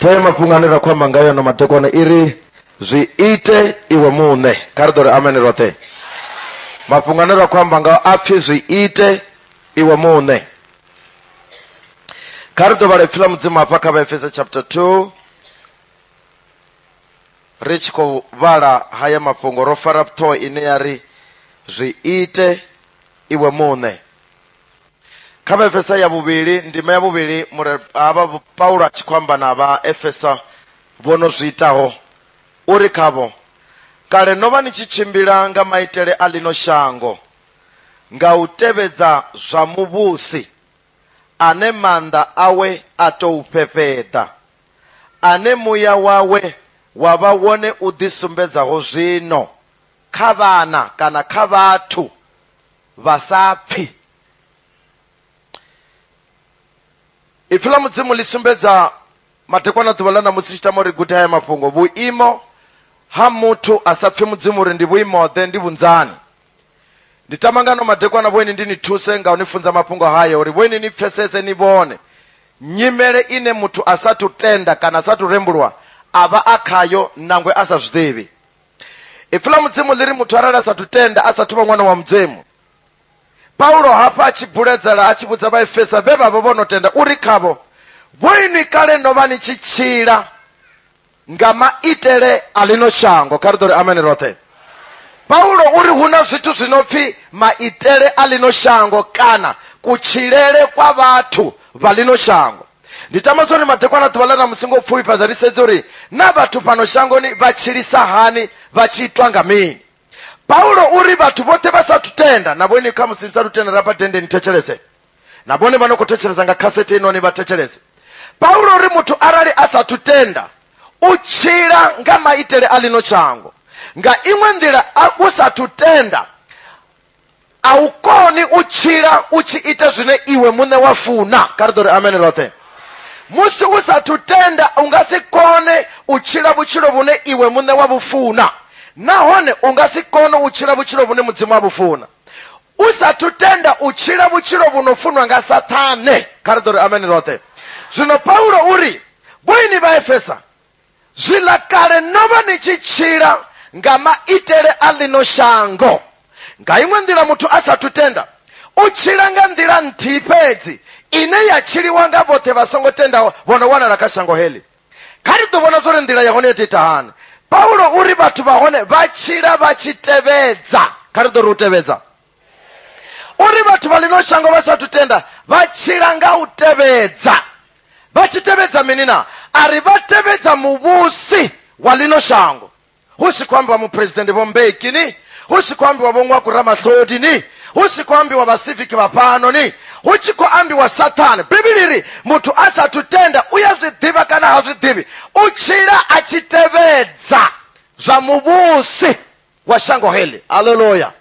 ṱhoho ya mafhungo ane ra khou amba ngayo ano madekwana i ri zwi ite iwe muṋe kha ri ḓo ri amene roṱhe mafhungo ane ra khou amba ngao a pfhi zwi ite iwe muṋe kha ri ḓo vhala ipfi ḽa mudzimu hafha kha vhaefesa chapter 2 ri tshi khou vhala haya mafhungo ro fara ṱhoho ine ya ri zwi ite iwe muṋe kha vhaefesa ya vhuvhili ndima ya vhuvhili mure havha paulo a tshi khou amba na vhaefesa vho no zwi itaho uri khavho kale no vha ni tshi tshimbila nga maitele a ḽino shango nga u tevhedza zwa muvhusi ane maanḓa awe a tou fhefheḓa ane muya wawe wa vha wone u ḓisumbedzaho zwino kha vhana kana kha vhathu vha sa pfi ipfi ḽa mudzimu ḽi sumbedza madekwana ḓuvha ḽa ṋamusi tshi tama uri gude haya mafhungo vhuimo ha muthu a sa pfi mudzimu uri ndi vhuimoḓe ndi vhunzani ndi tama ngano madekwana vhoini ndi ni thuse nga u ni funza mafhungo haya uri vhoini ni pfesese ni vhone nyimele ine muthu a sathu tenda kana a sathu rembulwa a vha a khayo nangwe a sa zwiḓivhi ipfi ḽa mudzimu ḽi ri muthu arali a sathu tenda a sathu vha ṅwana wa mudzimu paulo hafha a tshi buledzela a tshi vhudza vhaefesa vhe vha vha vho no tenda uri khavho vho inwi kale no vha ni tshi tshila nga maitele a ḽino shango kha ri ḓo ri amene roṱhe paulo u ri hu na zwithu zwi no pfi maitele a ḽino shango kana kutshilele kwa vhathu vha ḽino shango ndi tama zwori madekwana ḓuvha ḽa ṋamusi ngo pfufhifhadza ri sedze uri na vhathu fhano shangoni vha tshilisa hani vha tshi itwa nga mini paulo uri vhathu vhoṱhe vha sathu tenda na vhone kha musi ni sathu tenda rafha dende ni thetshelese na vhone vha no khou thetshelesa nga khasete inoni vha thetshelese paulo uri muthu arali a sathu tenda u tshila nga maitele a lino tshango nga iṅwe nḓila a u sathu tenda a u koni u tshila u tshi ita zwine iwe muṋe wa funa kha ri ḓo ri amene roṱhe musi u sathu tenda u nga si kone u tshila vhutshilo vhune iwe muṋe wa vhufuna nahone u nga si kone u tshila vhutshilo vhune mudzimu wa vhufuna u sathu tenda u tshila vhutshilo vhu no funwa nga sathane kha ri ḓo ri amene roṱhe zwino paulo uri vhoini vha efesa Zwiḽa kale no vha ni tshi tshila nga maitele a ḽino shango. Nga iṅwe nḓila muthu a sathu tenda, u tshila nga nḓila nthihi fhedzi ine ya tshiliwa nga vhoṱhe vha songo tendaho vho no wanala kha shango heḽi. Kha ri ḓo vhona zwa uri nḓila ya hone yo tou ita hani. Paulo u ri vhathu vha hone vha tshila vha tshi tevhedza. Kha ri ḓo ri u tevhedza. uri vhathu vha lino shango vha sathu tenda vha tshila nga u tevhedza vha tshi tevhedza mini na a ri vha tevhedza muvhusi wa lino shango hu si khou ambiwa muphuresidennde vho mbeki ni hu si khou ambiwa vho ṅwaku ramahlodi ni hu si khou ambiwa vhasiviki vha fhano ni hu tshi khou ambiwa sathane bivhili ri muthu a sathu tenda u ya zwi ḓivha kana ha zwi ḓivhi u tshila a tshi tevhedza zwa muvhusi wa shango heḽi haleluya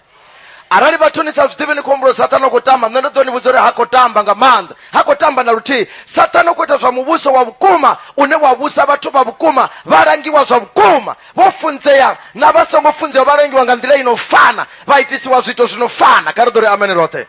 arali vhathu ni sa zwi ḓivhi ni khou humbula sathana u khou tamba nṋe ndo ḓo ni vhudza uri ha khou tamba nga maanḓa ha khou tamba na luthihi sathana u khou ita zwa muvhuso wa vhukuma une wa vhusa vhathu vha vhukuma vha langiwa zwa vhukuma vho funzea na vha songo funzea vha langiwa nga nḓila ino fana vha itisiwa zwiito zwino fana kha ri ḓo ri amene roṱhe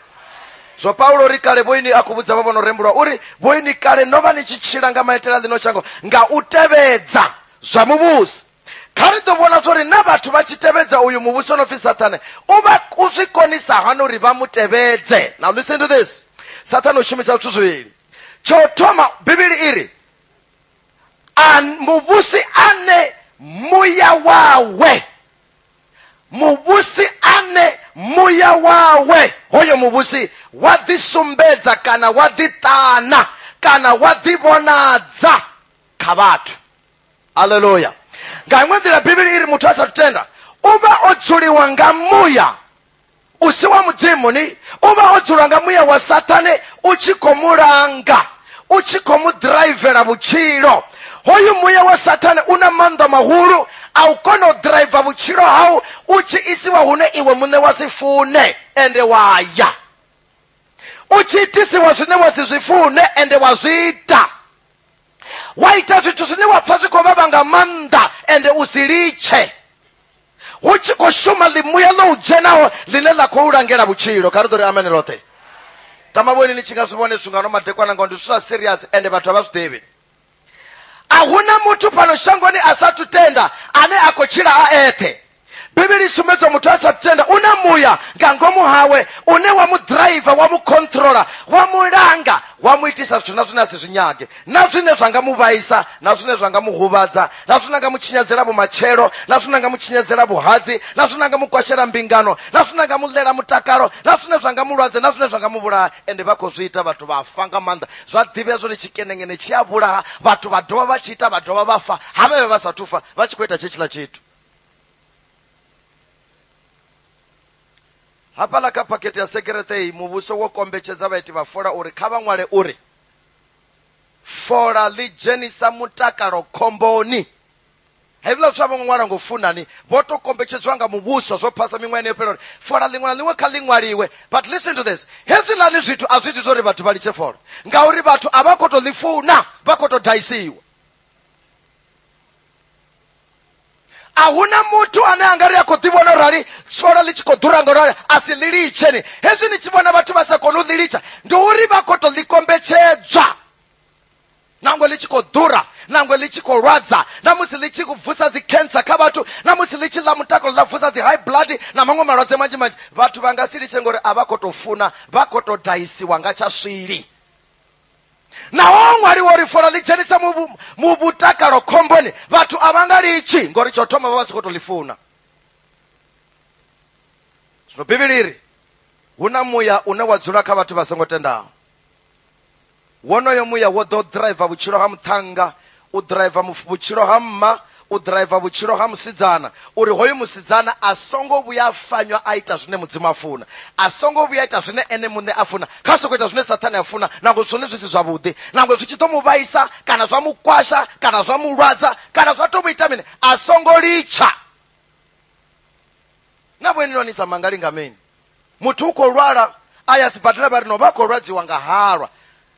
zwo paulo ri kale vhoini a khou vhudza vha vhono rembulwa uri vhoini kale no vha ni tshi tshila nga maitele a ḽino shango nga u tevhedza zwa muvhusi kha ri ḓo vhona zwo ri na vhathu vha tshi tevhedza uyu muvhuso no pfi sathane u vha u zwi konisa hani uri vha mu tevhedze now listen to this sathane u shumisa zwithu zwivhili tsho thoma bivhili i ri muvhusi ane muya wawe muvhusi ane muya wawe hoyo muvhusi wa ḓisumbedza kana wa ḓiṱana kana wa ḓivhonadza kha vhathu aleluya nga iṅwe nḓila bivhili i ri muthu a sa tenda u vha o dzuliwa nga muya u si wa mudzimu ni u vha o dzulwa nga muya wa sathane u tshi khou mu langa u tshi khou mu ḓiraivela vhutshilo hoyu muya wa sathane u na maanḓa mahulu a u kona u ḓiraiva vhutshilo hau u tshi isiwa hune iwe muṋe wa si fune ende wa ya u tshi itisiwa zwine wa si zwi fune ende wa zwi ita wa ita zwithu zwine wa pfa zwi khou vhavha nga maanḓa ende u si litshe hu tshi khou shuma ḽimuya ḽo u dzhenaho ḽine ḽa khou langela vhutshilo kha ri ḓo ri amene roṱhe tamavhoni ni tshi nga zwi vhone zwinga no madekwana ngao ndi zwithu zwa serious ende vhathu a vha zwi ḓivhi a huna muthu fhano shangoni a sathu tenda ane a khou tshila a eṱhe bivhili i sumbedza muthu a sa tenda u na muya nga ngomu hawe une wa mu ḓiraiva wa mu khontrola wa mu langa wa mu itisa zwithu na zwine a si zwi nyage na zwine zwa nga mu vhaisa na zwine zwa nga mu huvhadza na zwine nga mu tshinyadzela vhumatshelo na zwine nga mu tshinyadzela vhuhadzi na zwine nga mu kwashela mbingano na zwine nga mu ḽela mutakalo na zwine zwa nga mulwadze na zwine zwa nga mu vhulaha ende vha khou zwi ita vhathu vha fa nga maanḓa zwa ḓivhea zwone tshikenengene tshi a vhulaha vhathu vha dovha vha tshi ita vha dovha vha fa ha vhavhe vha sa thufa vha tshi khou ita tshe tshiḽa tshithu hafhaḽa kha phakhethe ya sekerete iyi muvhuso wo kombetshedza vhaiti vha fola uri kha vha ṅwale uri fola ḽi dzhenisa mutakalo khomboni hezwiḽa zwithu a vho ngo ṅwala ngo funani vho to kombetshedzwa nga muvhuso zwo phasa miṅwahani yo fhela uri fola ḽiṅwe na ḽiṅwe kha ḽi ṅwaliwe but listen to this hezwiḽani zwithu a zwi iti zwa uri vhathu vha litshe fola ngauri vhathu a vha khou to ḽi funa vha khou to daisiwa a hu na muthu ane a nga ri a khou ḓivhona u rali tshola ḽi tshi khou ḓura nga rali a si ḽi litsheni hezwi ni tshi vhona vhathu vha sa koni u ḽi litsha ndi uri vha khou to ḽi kombetshedzwa nangwe ḽi tshi khou ḓura nangwe ḽi tshi khou lwadza na musi ḽi tshi vusa dzi cancer kha vhathu na musi ḽi tshi ḽa mutakalo ḽa vusa dzi high blood na maṅwe malwadze manzhi manzhi vhathu vha nga si litshe ngori a vha khou to funa vha khou to daisiwa nga tsha swili naho ṅwali wo ri fola ḽi dzhenisa mu vhutakalo khomboni vhathu a vha nga litshi ngori tsho thoma vha vha si khou to ḽi funa zwino bivhili iri hu na muya une wa dzula kha vhathu vha songo tendaho wonoyo muya wo ḓo driver vhutshilo ha muṱhannga u ḓiraiva vhutshilo ha mma u ḓiraiva vhutshilo ha musidzana uri hoyu musidzana a songo vhuya a fanywa a ita zwine mudzimu a funa a songo vhuya ita zwine ene muṋe a funa kha sokou ita zwine sathane a funa nangwe zwone zwi si zwavhuḓi nangwe zwi tshi ḓo mu vhaisa kana zwa mu kwasha kana zwa mu lwadza kana zwa tou mu ita mini a songo litsha na vhoeni noni sa mangalinga mini muthu u khou lwala a ya sibadela vha ri no vha khou lwadziwa nga halwa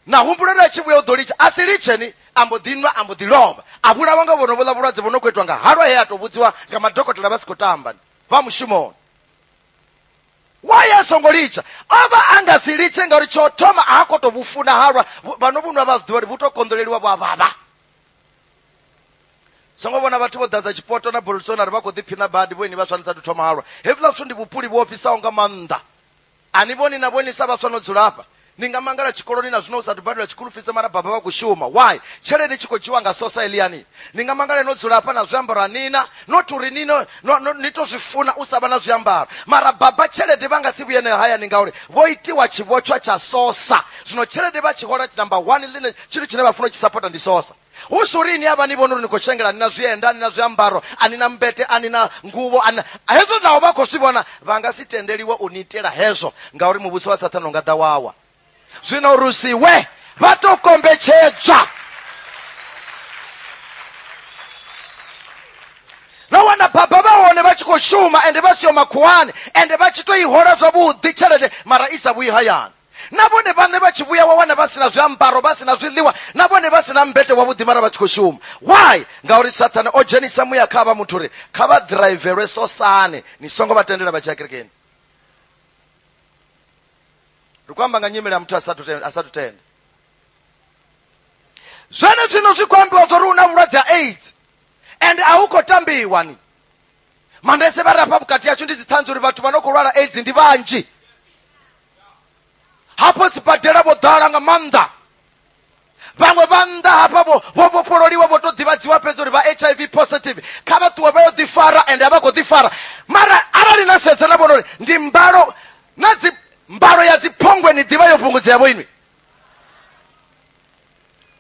na humbuloni a tshi vhuya u ḓo litsha a si litsheni a mbo ḓi nwa a mbo ḓi lovha a vhulawa nga vhono vhoḽa vhulwadze vho no khou itwa nga halwa he a tou vhudziwa nga madokotela vha si khou tamba vha mushumoni waye a songo litsha o vha a nga si litshe ngauri tsho thoma a khou tou vhufuna halwa vhano vhunwa vha zwiḓivha uri vhu tou konḓoleliwa vhu a vhavha songo vhona vhathu vho ḓadza tshipoto na bolsonaro vha khou ḓiphiṋa badi vho ini vha swanisa thu thoma halwa hevhuḽa zwithu ndi vhupuli vhu ofhisaho nga maanḓa A ni vhoni na vhoni sa vhaswa no dzula hafha ni nga mangala tshikoloni na zwino u sathu badela tshikulufise mara baba vha khou shuma why tshelede tshi khou dzhiwa nga sosa eliani ni nga mangala no dzula hafha na zwiambaro anina not uri ni no, no, no, ni to zwi funa u sa vha na zwiambaro mara baba tshelede vha nga si vhuye nayo hayani ngauri vho itiwa tshivhotshwa tsha sosa zwino tshelede vha tshi hola number one ḽine tshithu tshine vha funa u tshi sapota ndi sosa hu si uri ni a vha ni vhona uri ni khou tshengela ni na zwienda ni na zwiambaro ani na mbete ani na nguvho ani hezwo naho vha khou zwi vhona vha nga si tendeliwa u ni itela hezwo ngauri muvhuso wa sathana u nga ḓa wawa zwino uri si we vha tou kombetshedzwa na wana baba vha hone vha tshi khou shuma ende vha siho makhuwani ende vha tshi tou i hola zwavhuḓi tshelede mara i sa vhuyi hayani na vhone vhaṋe vha tshi vhuya wa wana vha si na zwiambaro vha si na zwiḽiwa na vhone vha si na mbete wavhuḓi mara vha tshi khou shuma why ngauri sathane o dzhenisa muya kha vha muthu uri kha vha ḓiraivelwe sosane ni songo vha tendela vha tshi ya kerekeni ri khou amba nga nyimele ya muthu a sathu tenda zwene zwino zwi khou ambiwa zwo ri u na vhulwadze ha aids and a hu khou tambiwa ni mandese vha rafha vhukati yashu ndi dziṱhanzi uri vhathu vha no khou lwala aids ndi vhanzhi hafho sibadela vho ḓala nga maanḓa vhaṅwe vha nnḓa hafha vho vho vhofhololiwa vho to ḓivhadziwa fhedzi uri vha hiv positive kha vha ṱuwe vha yo ḓifara ende a vha khou ḓifara mara arali na sedza na vhona uri ndi mbalo na dzi mbalo ya dziphongwe ni ḓivha yo fhungudzea vho inwi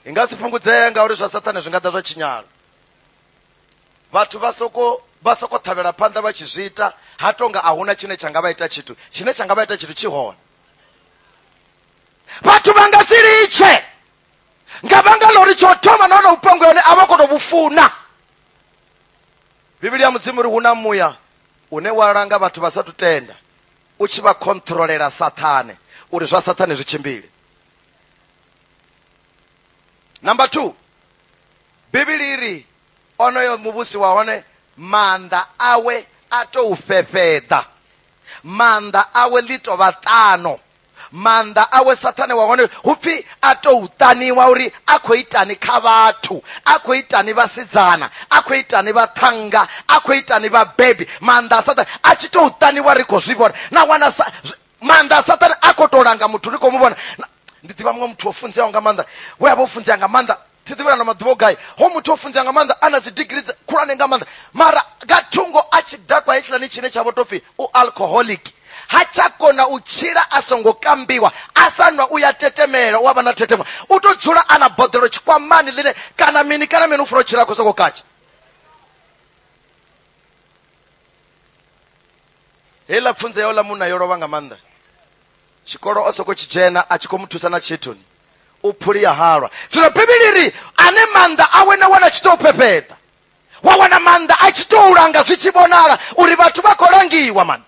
i nga si fhungudzee ngauri zwa sathane zwi nga ḓa zwa tshinyala vhathu vha soko vha soko ṱhavhela phanḓa vha tshi zwi ita ha tonga a huna tshine tsha nga vha ita tshithu tshine tsha nga vha ita tshithu tshi hone vhathu vha nga si litshe nga vhanga lori tsho thoma na hone vhupango yone a vha khou tou vhu funa bivhili ya mudzimu uri hu na muya une wa langa vhathu vha sa tu tenda u tshi vha khontrolela sathane uri zwa sathane zwi tshimbile number two bivhili i ri onoyo muvhusi wa hone maanḓa awe a tou fhefheḓa maanḓa awe ḽi tou vha ṱano maanḓa awe sathane wa hone hu pfi a tou ṱaniwa uri a khou itani kha vhathu a khou itani vhasidzana a khou itani vhaṱhannga a khou itani vhabebi maanḓa a sathane a tshi tou ṱaniwa ri khou zwi vhona na wana maanḓa a sathane a khou tou langa muthu ri khou mu vhona ndi ḓivha muṅwe muthu o funzeaho nga maanḓa we a vha o funzea nga maanḓa thi ḓivhi na maḓuvha o gai ho muthu o funzea nga maanḓa a na dzi digiri khulwane nga maanḓa mara nga thungo a tshi dakwa hetshiḽani tshine tsha vho tou pfhi u alcoholic ha tsha kona u tshila a songo kambiwa a sa nwa u ya tetemela u a vha na thetemwa u to dzula a na boḓelo tshikwamani ḽine kana mini kana mini u funa u tshila a khou soko katsha heiḽa pfunzo yau ḽa munna yo lovha nga maanḓa tshikolo o soko tshi dzhena a tshi khou mu thusa na tshithoni u phuli ya halwa zwino bivhili ri ane maanḓa awe na wana tshi tou phepheḓa wa wana maanḓa a tshi tou langa zwi tshi vhonala uri vhathu vha khou langiwa mani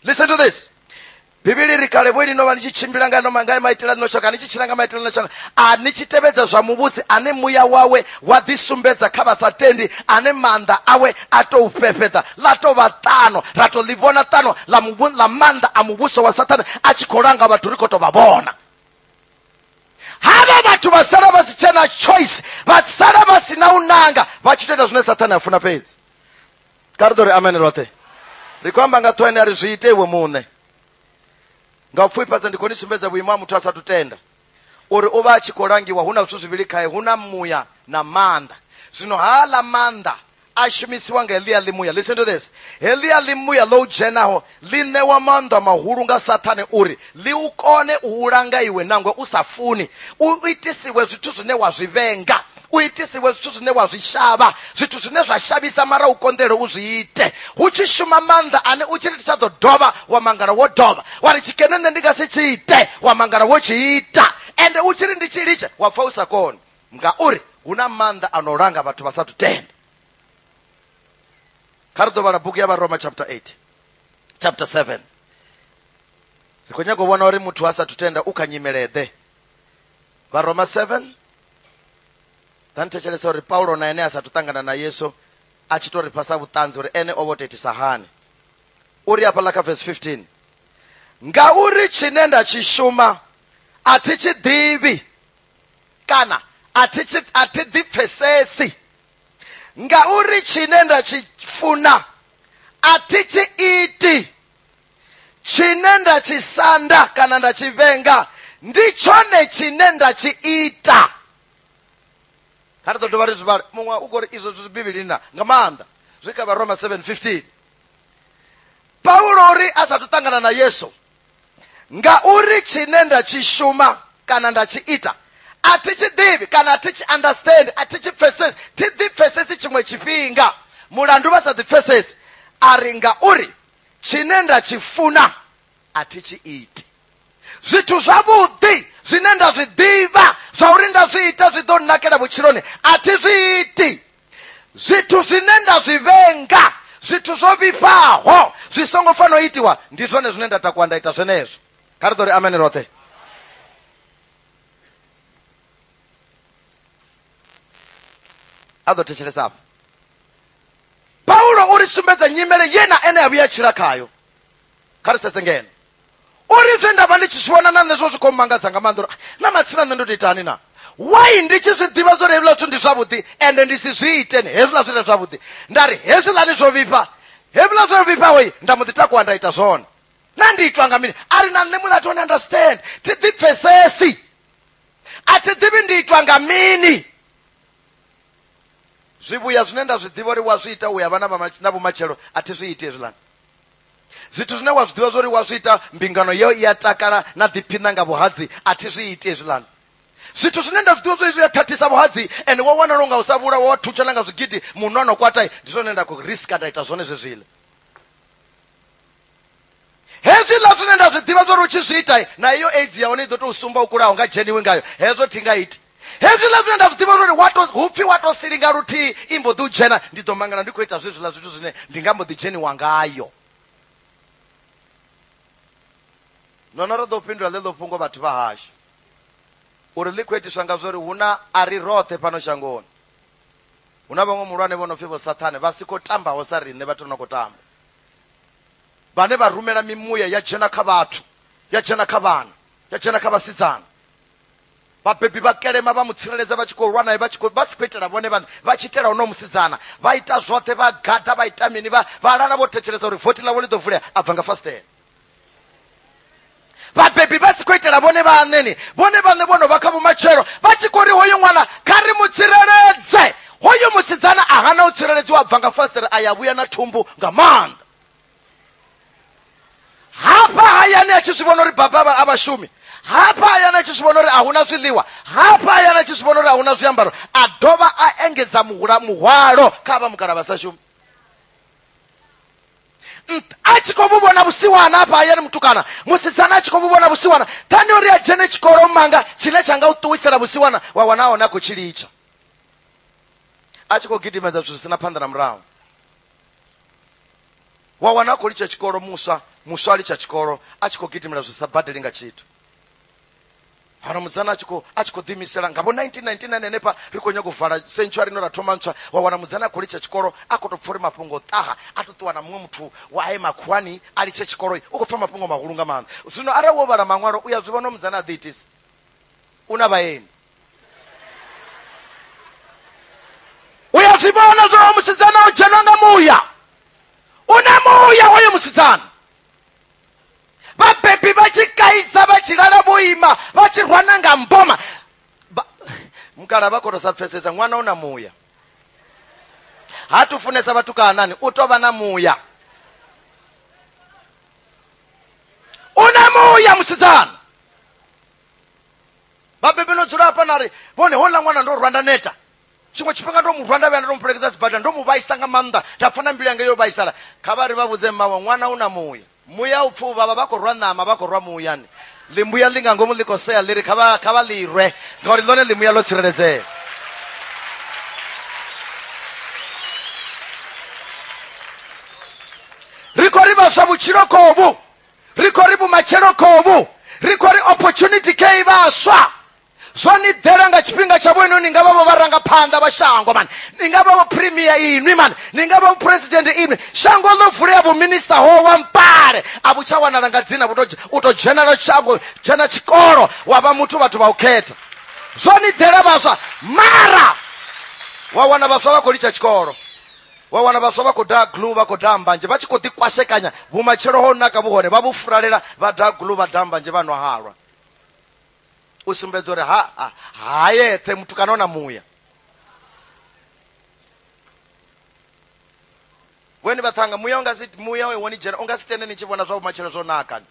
listen to this bivhili ri kale vhoini no vha ni tshi tshimbila nga noma nga maitela no shaka ni tshi tshila nga maitela no shaka a ni tshi tevhedza zwa muvhusi ane muya wawe wa ḓi sumbedza kha vha sa tendi ane maanḓa awe a tou fhefheḓa ḽa tou vha ṱano ra tou ḽi vhona ṱano ḽa maanḓa a muvhuso wa sathane a tshi khou langa vhathu ri khou tou vha vhona hava vhathu vha sala vha si tshena choice vha sala vha si na u nanga vha tshi to ita zwine sathane a funa fhedzi ka ri ḓo ri amene roṱhe ri khou amba nga ṱhohane a ri zwi ite iwe muṋe nga u pfufhifhadza ndi khou ni sumbedza vhuimo ha muthu a sathu tenda uri u vha a tshi khou langiwa hu na zwithu zwivhili khae hu na muya na maanḓa zwino haaḽa maanḓa a shumisiwa nga heḽia ḽimuya listen to this heḽia ḽimuya ḽo u dzhenaho ḽi ṋewa maanḓa mahulu nga sathane uri ḽi u kone u u langa iwe nangwe u sa funi u itisiwe zwithu zwine wa zwi vhenga u itisiwe zwithu zwine wa zwi shavha zwithu zwine zwa shavhisa mara u konḓele u zwi ite hu tshi shuma maanḓa ane u tshi ri tsha ḓo dovha wa mangala wo dovha wa ri tshikene nṋe ndi nga si tshi ite wa mangala wo tshi ita ende u tshi ri ndi tshi litshe wa pfa u sa koni ngauri hu na maanḓa a no langa vhathu vha sa thu tenda kha ri ḓo vhala bugu ya vharoma chapter 8 chapter 7 ri khou nyaga u vhona uri muthu a sa thu tenda u kha nyimeleḓe vharoma 7 ḓa ni thetshelesa uri paulo na ene a sa thu ṱangana na yesu a tshi to ri fhasa vhuṱanzi uri ene o vho to itisa hani u ri hafhaḽa kha vesi 15 ngauri tshine nda tshi shuma a thi tshi ḓivhi kana a thi tshi- a thi ḓipfesesi ngauri tshine nda tshi funa a thi tshi iti tshine nda tshi sanda kana nda tshi vhenga ndi tshone tshine nda tshi ita kha ri ḓo dovha ri zwi vhale muṅwe u khou ri izwo zwi bivhilini na nga maanḓa zwi kha vharoma 7 15 paulo uri a sathu ṱangana na yesu ngauri tshine nda tshi shuma kana nda tshi ita a thi tshi ḓivhi kana a thi tshi understand a thi tshi pfesesi thi ḓi pfesesi tshiṅwe tshifhinga mulandu vha sa ḓi pfesesi a ri ngauri tshine nda tshi funa a thi tshi iti zwithu zwavhuḓi zwine nda zwi ḓivha zwa uri nda zwi ita zwi ḓo nnakela vhutshiloni a thi zwi iti zwithu zwine nda zwi vhenga zwithu zwo vhifhaho zwi songo fanela u itiwa ndi zwone zwine nda takuwa nda ita zwenezwo kha ri ḓo ri amene roṱhe a ḓo thetshelesa afho paulo u ri sumbedza nyimele ye na ene a vhuya tshila khayo kha ri sedze ngeno uri zwe nda vha ndi tshi zwi vhona na nṋe zwo zwi khou mangadza nga maanḓa uri ah, na matsina nṋe ndo to itani na wai ndi tshi zwi ḓivha zwo ri hezwiḽa zwithu ndi zwavhuḓi ende ndi si zwi iteni hezwiḽa zwire zwavhuḓi nda ri hezwiḽani zwo vhifha hezwiḽa zwo vhifhahoi nda mu ḓi takuwa nda ita zwone na ndi itwa nga mini a ri na nṋe mulato one understand thi ḓi pfesesi a thi ḓivhi ndi itwa nga mini zwivhuya zwine nda zwi ḓivha uri wa zwi ita u ya vha na vhumatshelo a thi zwi iti hezwiḽani zwithu zwine wa zwi ḓivha zwori wa zwi ita mbingano yeo i a takala na ḓiphiṋa nga vhuhadzi a thi zwi iti hezwiḽani zwithu zwine nda zwi ḓivha zwori zwi a thathisa vhuhadzi and wa wanala unga u sa vhulawa wa thutshela nga zwigidi munhu ano kwata ndi zwone nda khou riska nda ita zwone zwezwiḽa hezwiḽa zwine nda zwi ḓivha zwori u tshi zwi ita na iyo aids ya hone i ḓo tou sumba u kulaho nga dzheniwi ngayo hezwo thi nga iti hezwiḽa zwine nda zwi ḓivha uri wato hu pfhi wa to silinga luthihi i mbo ḓi u dzhena ndi ḓo mangala ndi khou ita zwezwiḽa zwithu zwine ndi nga mbo ḓi dzheniwa ngayo nono ro ḓo fhindula ḽeḽo fhungo vhathu vha hashu uri ḽi khou itiswa nga zwori hu na a ri roṱhe fhano shangoni hu na vhaṅwe muhulwane vho no pfhi vho sathane vha si khou tambaho sa riṋe vhathu no khou tamba vhane vha rumela mimuya ya dzhena kha vhathu ya dzhena kha vhana ya dzhena kha vhasidzana vhabebi vha kelema vha mu tsireledza vha tshi khou lwa naye vha tshi khou vha si khou itela vhone vhaṋe vha tshi itela hono musidzana vha ita zwoṱhe vha gada vha ita mini vha vha lala vho thetshelesa uri vothi ḽavho ḽi ḓo vulea a bva nga fasiṱela vhabebi vha si khou itela vhone vhaṋeni vhone vhaṋe vho no vha kha vhumatshelo vha tshi khou ri hoyo ṅwana kha ri mu tsireledze hoyo musidzana a hana u tsireledziwa a bva nga fasiṱere a ya vhuya na thumbu nga maanḓa hafha hayani a tshi zwi vhona uri baba a vhashumi hafha hayani a tshi zwi vhona uri a huna zwiḽiwa hafha hayani a tshi zwi vhona uri a huna zwiambaro a dovha a engedza muhula muhwalo kha vha mukala vha sa shumi a tshi khou vhona vhusiwana hafha hayani mutukana musidzana a tshi khou vhona vhusiwana thani uri a dzhene tshikolo manga tshine tsha nga u ṱuwisela vhusiwana wa wana hone a khou tshi litsha a tshi khou gidimedza zwithu zwi sina phanḓa na murahu wa wana a khou litsha tshikolo muswa muswa a litsha tshikolo a tshi khou gidimela zwi sa badeli nga tshithu hana musana a tshi khou a tshi khou ḓiimisela nga vho 1999 henefha ri khou nyanga u vala century ino ra thoma ntswa wa wana musana a khou litsha tshikolo a khou tou pfa uri mafhungo ṱaha a tou ṱuwa na muṅwe muthu wa aye makhuwani a litshe tshikolo u khou pfa mafhungo mahulu nga maanḓa zwino arali wo vhala maṅwalo u ya zwi vhona musana a ḓiitisa una vhaeni u ya zwi vhona zwa musidzana o dzhenwa nga muya u na muya hoyo musidzana vhabebi vha tshi kaidza vha tshi lala vho ima vha tshi rwana nga mboma mukala vha kono sa pfesesa ṅwana u na muya ha tu funesa vhatukanani u to vha na muya u na muya musidzana vhabebi no dzula hafha na ri vhone houḽa ṅwana ndo rwa nda neta tshiṅwe tshifhinga ndo mu rwa nda vhuya nda ndo mupelekedza sibadela ndo mu vhaisa nga maanḓa nda pfa na mbilu yanga yo vhaisala kha vha ri vha vhudze mmawe ṅwana u na muya muya u pfa u vhavha vha khou rwa ṋama vha khou rwa muyani ḽimbuya ḽi nga ngomu ḽi khou sea ḽi ri kha vha kha vha ḽi rwe ngauri ḽone ḽimuya ḽo tsireledzea ri khou ri vhaswa vhutshilo khovhu ri khou ri vhumatshelo kovhu ri khou ri opportunity kha i vhaswa zwo ni ḓela nga tshifhinga tsha vhoino ni nga vha vho vharangaphanḓa vha shango mani ni nga vha vho premier inwi mani ni nga vha vho president inwi shango ḽo vulea vhominista ho wa mpale a vhu tsha wanala nga dzina vhu to- u to dzhenela shango dzhena tshikolo wa vha muthu vhathu vha u khetha zwo ni ḓela vhaswa mara wa wana vhaswa vha khou litsha tshikolo wa wana vhaswa vha khou daha glu vha khou daha mbanzhe vha tshi khou ḓikwashekanya vhumatshelo ho naka vhu hone vha vhu furalela vha daha glu vha daha mbanzhe vha nwa halwa u sumbedza uri ha ha ha yeṱhe muthu kana ona muya weni vhaṱhanga muya unga si muya we woni dzhena unga si tende ni tshi vhona zwa vhumatshelo zwo naka ni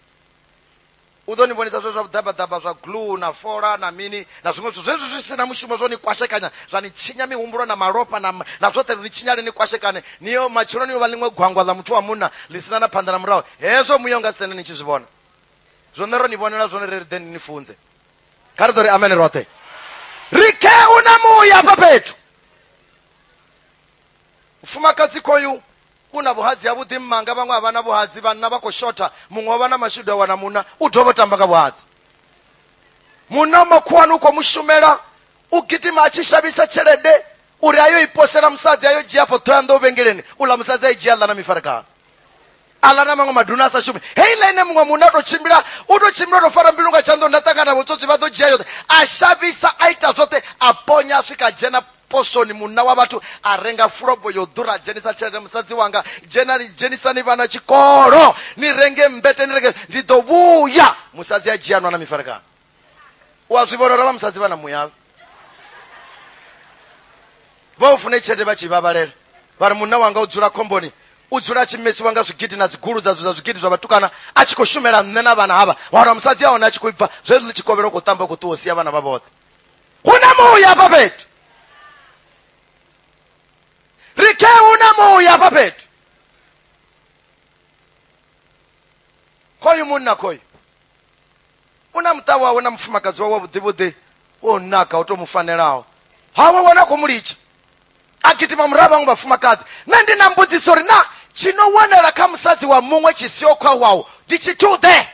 U ḓo ni vhonisa zwe zwa vhuḓabaḓaba zwa glue na fola na mini na zwiṅwe zwithu zwezwi zwi si na mushumo zwo ni kwashekanya zwa ni tshinya mihumbulo na malofha na, na zwoṱhe lu ni tshinyale ni kwashekane ni yo matshelo ni yo vha ḽiṅwe gwangwa ḽa muthu wa munna ḽi sina na phanḓa na murahu hezwo muya u nga si tende ni tshi zwi vhona zwone ro ni vhonela zwone ri ri ḓe ni ni funze kha ri ḓo ri amene roṱhe ri khe u na muya hafha fhethu mufumakadzi khoyu U na vhuhadzi havhuḓi mmanga, vhaṅwe a vha na vhuhadzi, vhanna vha khou shotha, muṅwe o vha na mashudu a wana munna, u dovha u tamba nga vhuhadzi. Munna wa makhuwani u khou mu shumela, u gidima a tshi shavhisa tshelede uri a yo i posela musadzi a yo dzhia afho ṱhoyanḓou vhengeleni uḽa musadzi a i dzhia ḽa na mifarekano aḽa na maṅwe maduna a sa shumi heiḽa ine muṅwe munna a tou tshimbila u tou tshimbila u tou fara mbilu nga tshanḓo nda ṱangana vhutsotsi vha ḓo dzhia yoṱhe a shavhisa a ita zwoṱhe a ponya a swika a dzhena posoni munna wa vhathu a renga fulobo yo ḓura dzhenisa tshelede musadzi wanga dzhena dzhenisani vhana tshikolo ni renge mbete ni renge ndi ḓo vhuya musadzi a dzhia nwana mifarekano u a zwi vhona uri vha musadzi vha na muyavhe vha u fune tshelede vha tshi vhavhalela vha ri munna wanga u dzula khomboni u dzula a tshi mesiwa nga zwigidi na dzigulu dza zwa zwigidi zwa vhatukana a tshi khou shumela nṋe na vhana havha wana musadzi a hone a tshi khou ibva zwezwi ḽi tshikovhela u khou tamba u khou ṱuwa u sia vhana vha vhoṱhe huna muya hafha fhethu ri khe huna muya hafha fhethu khoyu munna khoyu u na muṱa wawe na mufumakadzi wawe wavhuḓivhuḓi wo naka u to mu fanelaho hawe wana khou mu litsha a gidima murahu vhaṅwe vhafumakadzi nṋe ndi na mbudziso uri na tshi no wanala kha musadzi wa muṅwe tshi siho khwawaho ndi tshi tuḓe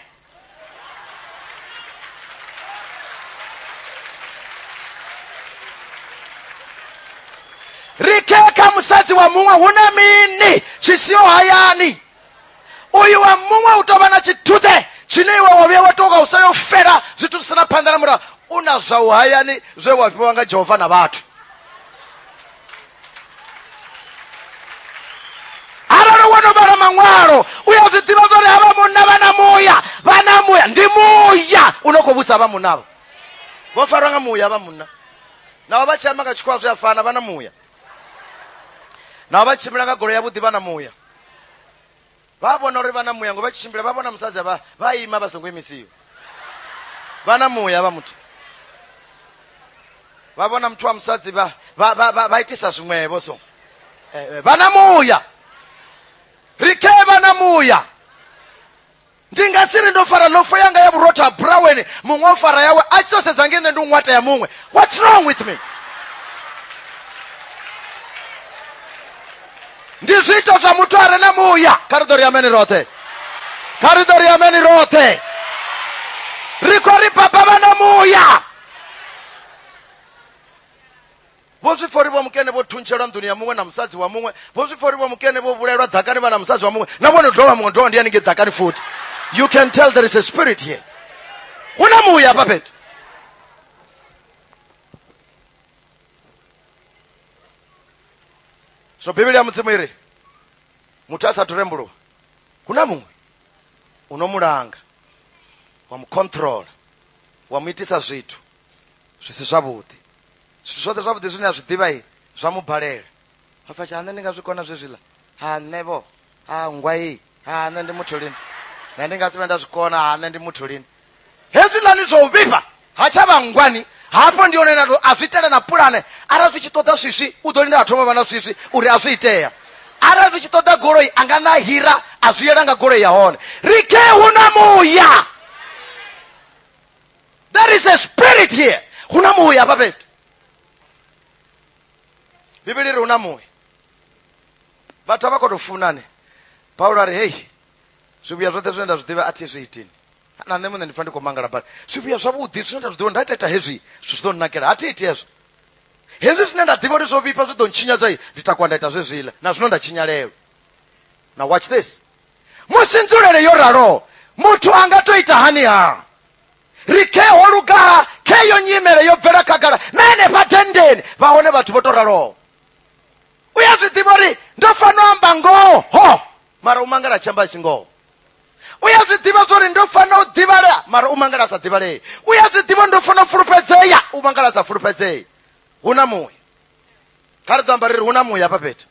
ri khe kha musadzi wa muṅwe hu na mini tshi siho hayani uyu wa muṅwe u tou vha na tshiduḓe tshine iwe wa vhuya wa tou nga u sa yo fela zwithu zwi sina phanḓa na murahu u na zwa u hayani zwe wa fhiwa nga jehova na vhathu arali wo no vhala maṅwalo u ya zwi ḓivha zwa uri havha munna vha na muya vha na muya ndi muya u no khou vhusa vha munnavho vho farwa nga muya vha munna navho vha tshi amba nga tshikhowa zwi a fana vha na muya navho vha tshimbila nga golo yavhuḓi vha na muya vha vhona uri vha na muya ngo vha tshi tshimbila vha vhona musadzi vha vha ima vha songo imisiwa vha na muya vha muthu vha vhona muthu wa musadzi vha vha vha vha- vha itisa zwiṅwevho so Eh, eh, vha na muya ri khe vha na muya ndi nga si ri ndo fara lofo yanga ya vhurotho ha buraweni muṅwe o fara yawe a tshi tou sedza nge nṋe ndi u ṅwata ya muṅwe what's wrong with me ndi zwiito zwa muthu a re na muya kha ri ḓo ri ameni roṱhe kha ri ḓo ri ameni roṱhe ri khou ri baba vha na muya vho zwi pfa uri vho mukene vho thuntshelwa nḓuni ya muṅwe na musadzi wa muṅwe vho zwi pfa uri vho mukene vho vhulaelwa ḓakani vha na musadzi wa muṅwe na vhone dovha muṅwe dovha ndi ya ningei ḓakani futhi you can tell there is a spirit here hu na muya hafha fhethu so bivhili ya mudzimu iri muthu a sathu rembuluwa hu na muṅwe u no mulanga wa mu controla wa mu itisa zwithu zwi si zwavhuḓi zwithu zwoṱhe zwavhuḓi zwine a zwi ḓivha i zwa mu balela a pfa tsha nṋe ndi nga zwi kona zwezwiḽa ha nṋe vho ha nngwa iyi ha nṋe ndi muthu lini nṋe ndi nga si vhe nda zwi kona ha nṋe ndi muthu lini hezwiḽani zwa u vhifha ha tsha vha nngwani hafho ndi hone nato a zwi itela na pulane arali zwi tshi ṱoḓa swiswi u ḓo lindela thoma vha na swiswi uri a zwi itea arali zwi tshi ṱoḓa goloi a nga na hira a zwi yela nga goloi ya hone rike hu na muya there is a spirit here hu na muya hafha fhethu bivhili ri hu na muya vhathu a vha khou tou funane paulo a ri hei zwivhuya zwoṱhe zwine nda zwi ḓivha a thi zwi itini na nṋe muṋe ndi pfa ndi khou mangala badi zwivhuya zwavhuḓi zwine nda zwi ḓivha nda ita ita hezwi zwithu zwi ḓo nnakela a thi iti hezwo hezwi zwine nda ḓivha uri zwo vhifha zwi ḓo ntshinyadza ndi takwa nda ita zwezwiḽa na zwino nda tshinyalelwa na watch this musi nzulele yo raloho muthu a nga to ita hani ha ri khe ho lugaha khe yo nyimele yo bvela khagala na henefha dendeni vha hone vhathu vho to raloho u ya zwi ḓivha uri ndo fanela amba ngoho mara u mangala tshi amba si ngoho u ya zwi ḓivha zwa uri ndo fanela u ḓivhalea mara u mangala sa ḓivhalee u ya zwi ḓivha ndo fanela u fulufhedzea u mangala sa fulufhedzee hu na muṅwe kha ri ḓo amba ri ri hu na muya hafha fhethu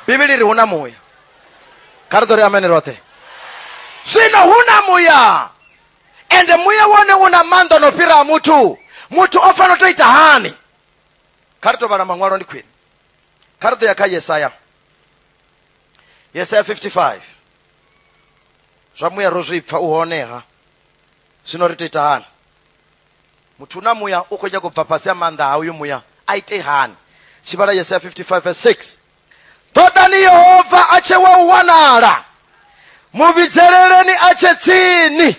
bivhili ri hu na muya kha ri ḓo ri amene roṱhe zwino hu na muya ende muya wone u na maanḓa no fhira a muthu muthu o fanela u to ita hani kha ri to vhala maṅwalo ndi khwine kha ri ḓo ya kha yesaya yesaya 55 zwa muya ro zwi pfa u honeha zwino ri to ita hani muthu na muya u khou nyaka u bva fhasi ha maanḓa ha uyu muya a ite hani tshivhala yesaya 55 verse 6 ṱoḓani yehova a tshe wa u wanala mu vhidzeleleni a tshe tsini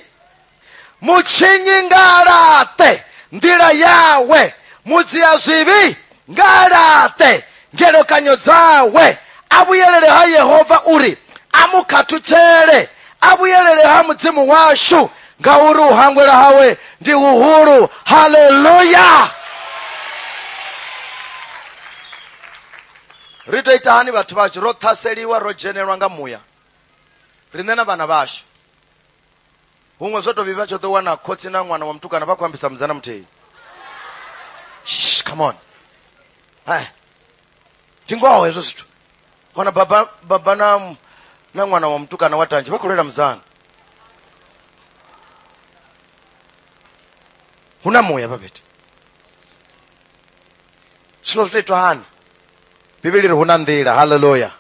mu tshinyi nga laṱe nḓila yawe mu dzia zwivhi nga a laṱe ngelekanyo dzawe a vhuyelele ha yehova uri a mu khathutshele a vhuyelele ha mudzimu washu ngauri u hangwela hawe ndi huhulu haleluya ri tou ita hani vhathu vhashu ro ṱhaseliwa ro dzhenelwa nga muya riṋe na vhana vhashu huṅwe zwo tovhi vha tsho ḓo wana khotsi na ṅwana wa mutukana vha khou ambisa mudzana muthihi Shh, come on Eh, ndi ngoho hezwo zwithu wana baba baba na m- na ṅwana wa mutukana wa tanzhe vha khou lwela mudzana hu na muya vhavheti zwino zwi to itwa hani bivhili ri hu na nḓila halleluya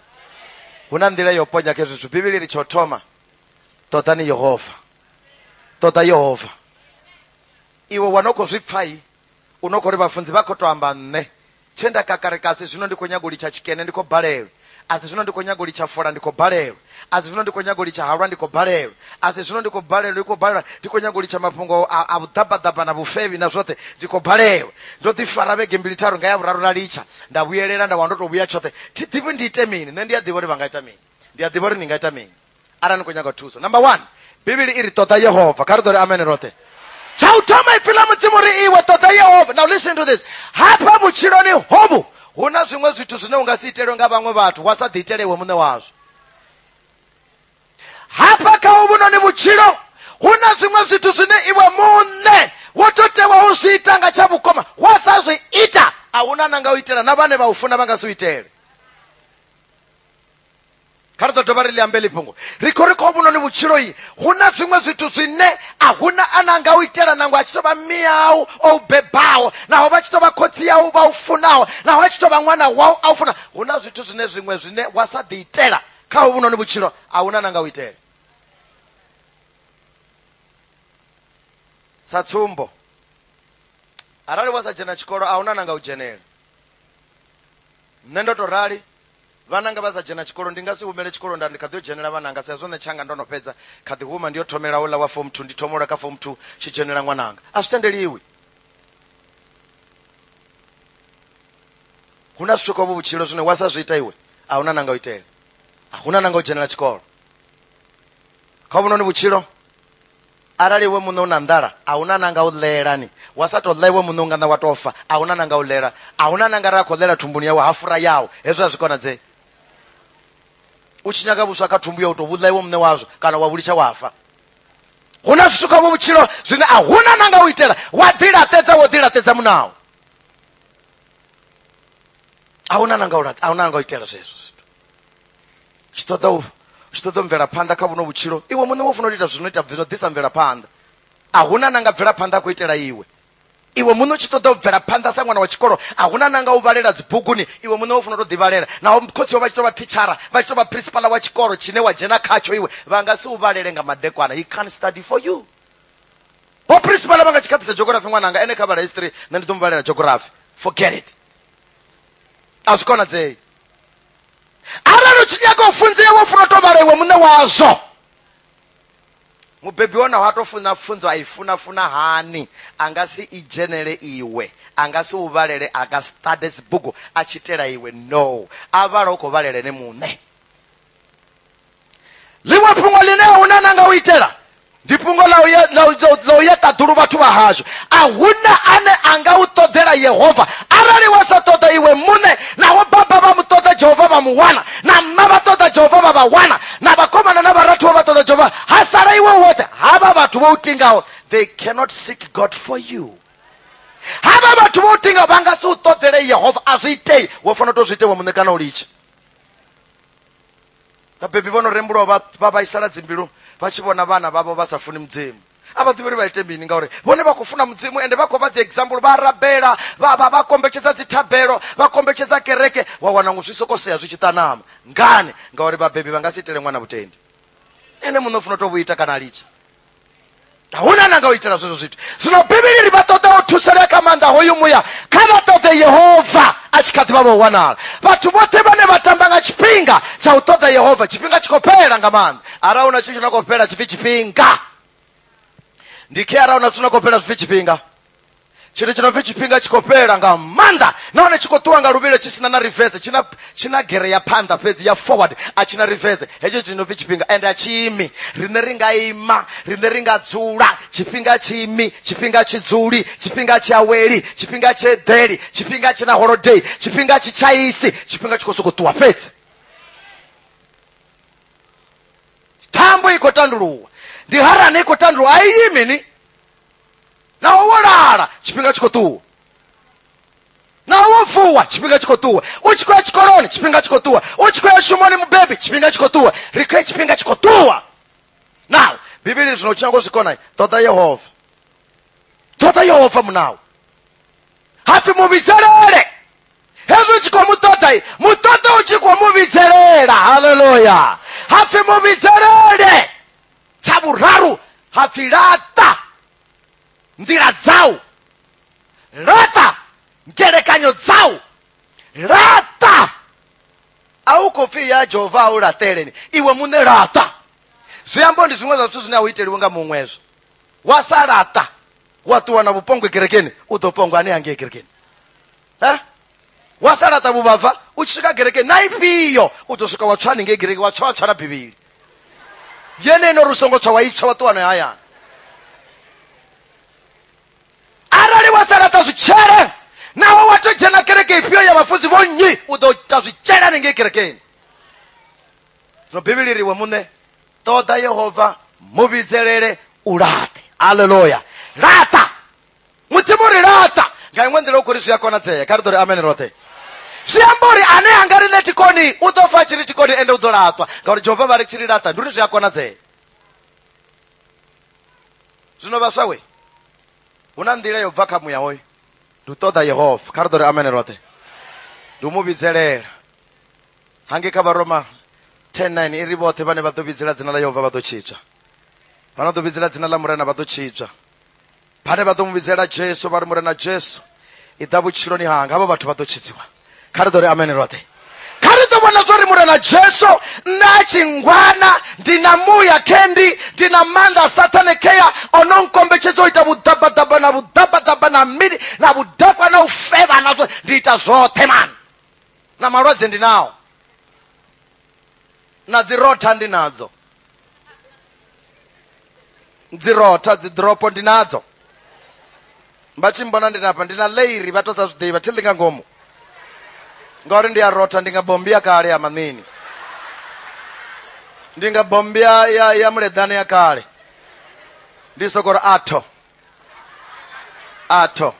hu na nḓila yo ponya kha hezwi zwithu bivhili ri tsho thoma ṱoḓani yehova ṱoḓa yehova iwe wa no khou zwi pfai u no khou ri vhafunzi vha khou tou amba nṋe tshe nda kakareka asi zwino ndi khou nyago litsha tshikene ndi khou balelwa asi zwino ndi khou nyago litsha fola ndi khou balelwa asi zwino ndi khou nyago litsha halwa ndi khou balelwa asi zwino ndi khou balelwa ndi khou balelwa ndi khou nyago litsha mafhungo a a vhuḓabaḓaba na vhufevhi na zwoṱhe ndi khou balelwa ndo ḓi fara vhege mbili tharu nga ya vhuraru na litsha nda vhuyelela nda wana ndo to vhuya tshoṱhe thi ḓivhi ndi ite mini nṋe ndi a ḓivha uri vha nga ita mini ndi a ḓivha uri ni nga ita mini arali ni khou nyaga thuso number one bivhili i ri ṱoḓa yehova kha ri ḓo ri amene roṱhe tsha u thoma ipfi ḽa mudzimu ri iwe ṱoḓa yehova now listen to this hafha vhutshiloni hovhu hu na zwiṅwe zwithu zwine u nga si itelwe nga vhaṅwe vhathu wa sa ḓiitele iwe muṋe wazwo hafha kha uvhu noni vhutshilo hu na zwiṅwe zwithu zwine iwe muṋe wo to tewa u zwi ita nga tsha vhukoma wa sa zwi ita a huna na nga u itela na vhane vha u funa vha nga si u itele kha ri ḓo dovha ri ḽi ambe ḽifhungo ri khou ri kha vhunoni vhutshiloi hu na zwiṅwe zwithu zwine a huna a na nga u itela nangwe a tshi tou vha miyau o u bebaho naho vha tshi tou vha khotsi yau vha u funaho naho a tshi tou vha ṅwana wau a u funa hu na zwithu zwine zwiṅwe zwine wa sa ḓi itela kha ho vhunoni vhutshilo a huna na nga u itela sa tsumbo arali wa sa dzhena tshikolo a huna na nga u dzhenela nṋe ndo to rali Vhananga vha sa dzhena tshikolo ndi nga si humele tshikolo nda ndi kha ḓi yo dzhenela vhananga sa zwone tshanga ndo no fhedza kha ḓi huma ndi yo thomela uḽa wa form 2 ndi thoma uḽa kha form 2 tshi dzhenela ṅwananga a zwi tendeliwi hu na zwithu kovho vhutshilo zwine wa sa zwi ita iwe a huna nanga u itela a huna nanga u dzhenela tshikolo kha vhunoni vhutshilo arali iwe muṋe u na nḓala a hu na nanga u ḽela ni wa sa tou ḽa iwe muṋe u nga ṋa wa tou fa a hu na nanga u ḽela a hu na nanga ra khou ḽela thumbuni yawe ha fura yawo hezwo a zwi konadzei u tshi nyaga vhuswa kha thumbu ya u tou vhuḽa iwe muṋe wazwo kana wa vhulitsha wa fa hu na zwithu kha vhutshilo zwine a hu na nanga u itela wa ḓilaṱedza wo ḓilaṱedza munawo a hu na nanga u itela zwezwo tshi ṱoḓa u tshi ṱoḓa mvelaphanḓa kha vhuno vhutshilo iwe muṋe wo funa u ita zwino ita zwino ḓisa mvelaphanḓa a huna na nga bvelaphanḓa a khou itela iwe iwe muṋe u tshi ṱoḓa u bvela phanḓa sa ṅwana wa tshikolo a huna na nga u vhalela dzibuguni iwe muṋe wo funa to ḓivhalela naho khotsi wa vha tshi to vha thitshara vha tshi to vha principala wa tshikolo tshine wa dzhena khatsho iwe vha nga si u vhalele nga madekwana he can study for you vho principala vha nga tshi khaḓisa geography ṅwananga ene kha vhala history nṋe ndi ḓo mu vhalela geography forget it a zwi konadzei arali u tshi nyaga u funzea wo funa u tou vhala iwe muṋe wazwo mubebi wa naho a tou funa pfunzo a i funa funa hani a nga si i dzhenele iwe a nga si u vhalele a nga si ṱade dzibugu a tshi itela iwe no a vhala u khou vhalela ene muṋe ḽiṅwe fhungo ḽine a huna na nga u itela ndi fhungo ḽa u ye- ḽa u- ḽa u- ḽa u ya ṱaḓulu vhathu vha hashu a huna ane a nga u ṱoḓela yehova arali wa sa ṱoḓa iwe muṋe naho baba vha mu ṱoḓa jehova vha mu wana na mma vha ṱoḓa jehova vha vha wana na vhakomana na vharathu vha vha ṱoḓa jehova ha sala iwe u woṱhe havha vhathu vho u tingaho they cannot seek god for you havha vhathu vho u tingaho vha nga si u ṱoḓele yehova a zwi itei wo fanela u tou zwi ite iwe muṋe kana u litshe vhabebi vho no rembulwa vha vha vhaisala dzimbilu vha tshi vhona vhana vhavho vha sa funi mudzimu a vha ḓivhi uri vha ite mini ngauri vhone vha khou funa mudzimu ende vha khou vha dzi example vha rabela vha vha vha kombetshedza dzithabelo vha kombetshedza kereke wa wana ngo zwi soko sea zwi tshi ṱanama ngani ngauri vhabebi vha nga si itele ṅwana vhutendi ene muṋe u funa u to vhu ita kana a litsha a huna na nga u itela zwezwo zwithu zwino bivhili ri vha ṱoḓa u thusalea kha maanḓa hoyu muya kha vha ṱoḓe yehova a tshi kha ḓi vha vha u wanala vhathu vhoṱhe vhane vha tamba nga tshifhinga tsha u ṱoḓa yehova tshifhinga tshi khou fhela nga maanḓa arali huna tshithu tshi na khou fhela tshipfi tshifhinga ndi khe arali huna zwithu na khou fhela zwipfi tshifhinga tshithu tshi no pfi tshifhinga tshi khou fhela nga maanḓa nahone tshi khou ṱuwa nga luvhilo tshi sina na reverse tshina tshina gere ya phanḓa fhedzi ya forward a tshina reverse hetsho tshi no pfi tshifhinga and a tshiimi rine ri nga ima rine ri nga dzula tshifhinga tshiimi tshifhinga tshi dzuli tshifhinga tshi aweli tshifhinga tshi eḓeli tshifhinga tshi na holiday tshifhinga tshi tshaisi tshifhinga tshi khou sokou ṱuwa fhedzi thambo i khou tanduluwa ndi harani i khou tanduluwa a iyi mini naho wo lala tshifhinga tshi khou ṱuwa naho wo vuwa tshifhinga tshi khou ṱuwa u tshi khou ya tshikoloni tshifhinga tshi khou ṱuwa u tshi khou ya shumoni mubebi tshifhinga tshi khou ṱuwa ri khou ya tshifhinga tshi khou ṱuwa naho bivhili zwino tshinyago zwikonai ṱoḓa yehova ṱoḓa yehova munawo hapfi mu vhidzelele hezwi u tshi khou mu ṱoḓa mu ṱoḓa u tshi khou mu vhidzelela haleluya hapfi mu vhidzelele tsha vhuraru ha pfi laṱa nḓila dzau laṱa ngelekanyo dzau laṱa a u khou pfi ya jehova a u laṱeleni iwe muṋe laṱa zwi ambo ndi zwiṅwe zwa zwithu zwine a u iteliwe nga muṅwezwo wa sa laṱa wa ṱuwa na vhupongwe kerekeni u ḓo pongwa ane hangei kerekeni eh? wa sa laṱa vhuvhava u tshi swika gereke na ifhio u ḓo swika wa tswa haningei gereke wa tswa wa tswala bivhili yeneno ri u songo tswa wa itswa wa ṱuwano hayani arali wa sa laṱa zwitshele naho wa to dzhena kereke ifhio ya vhafunzi vho nnyi u ḓo ita zwitshele haningei kerekeni zwino bivhili riwe muṋe ṱoḓa yehova mu vhidzelele u laṱe aleluya laṱa mudzimu ri laṱa nga iṅwe nḓila u khou ri zwi a konadzea kha ri ḓo ri amene roṱhe zwi amba uri ane a nga ri ṋe tikoni u ḓo fa tshi ri tikoni ende u ḓo laṱwa ngauri jehova vha ri tshi ri laṱa ndi uri zwi a konadzea zwino vhaswa we hu na nḓila yo bva kha muya hoyo ndi u ṱoḓa yehova kha ri ḓo ri amene roṱhe ndi u mu vhidzelela hange kha vharoma 109 i ri vhoṱhe vhane vha ḓo vhidzela dzina ḽa yehova vha ḓo tshitswa vha no ḓo vhidzela dzina ḽa murena vha ḓo tshitswa vhane vha ḓo mu vhidzela jesu vha ri murena jesu i ḓa vhutshiloni hanga havho vhathu vha ḓo tshidziwa kha ri ḓo ri amene roṱhe kha ri ḓo vhona zwo ri murena jesu nṋe a tshi ngwana ndi na muya kendi ndi na maanḓa a sathane kea o no nkombetshedza u ita vhuḓabaḓaba na vhuḓabaḓaba na mini na vhudakwa na u fevha na zwo ndi ita zwoṱhe mani na malwadze ndi nao na dzi rotha ndi nadzo dzi rotha dzi dropo ndi nadzo vha tshi mbona ndi napa ndi na leiri vha to sa zwi ḓivha thi ḽi nga ngomu ngauri ndi ya rotha ndi nga bombi ya kale ya maṋini ndi nga bombi ya ya, ya muleḓane ya kale ndi sokori atho atho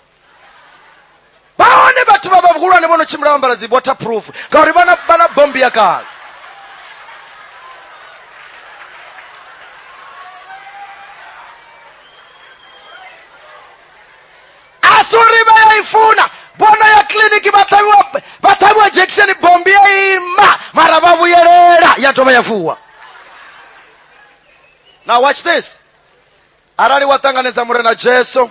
vha hone vhathu vha vhahulwane vho no tshimbila vha ambara dzi waterproof ngauri vha na vha na bombo ya kale a si uri vha ya i funa bono ya kiliniki vha ṱhavhiwa vha ṱhavhiwa jekisheni bombi ya ima mara vha vhuyelela ya dovha ya vuwa now watch this arali wa ṱanganedza murena jesu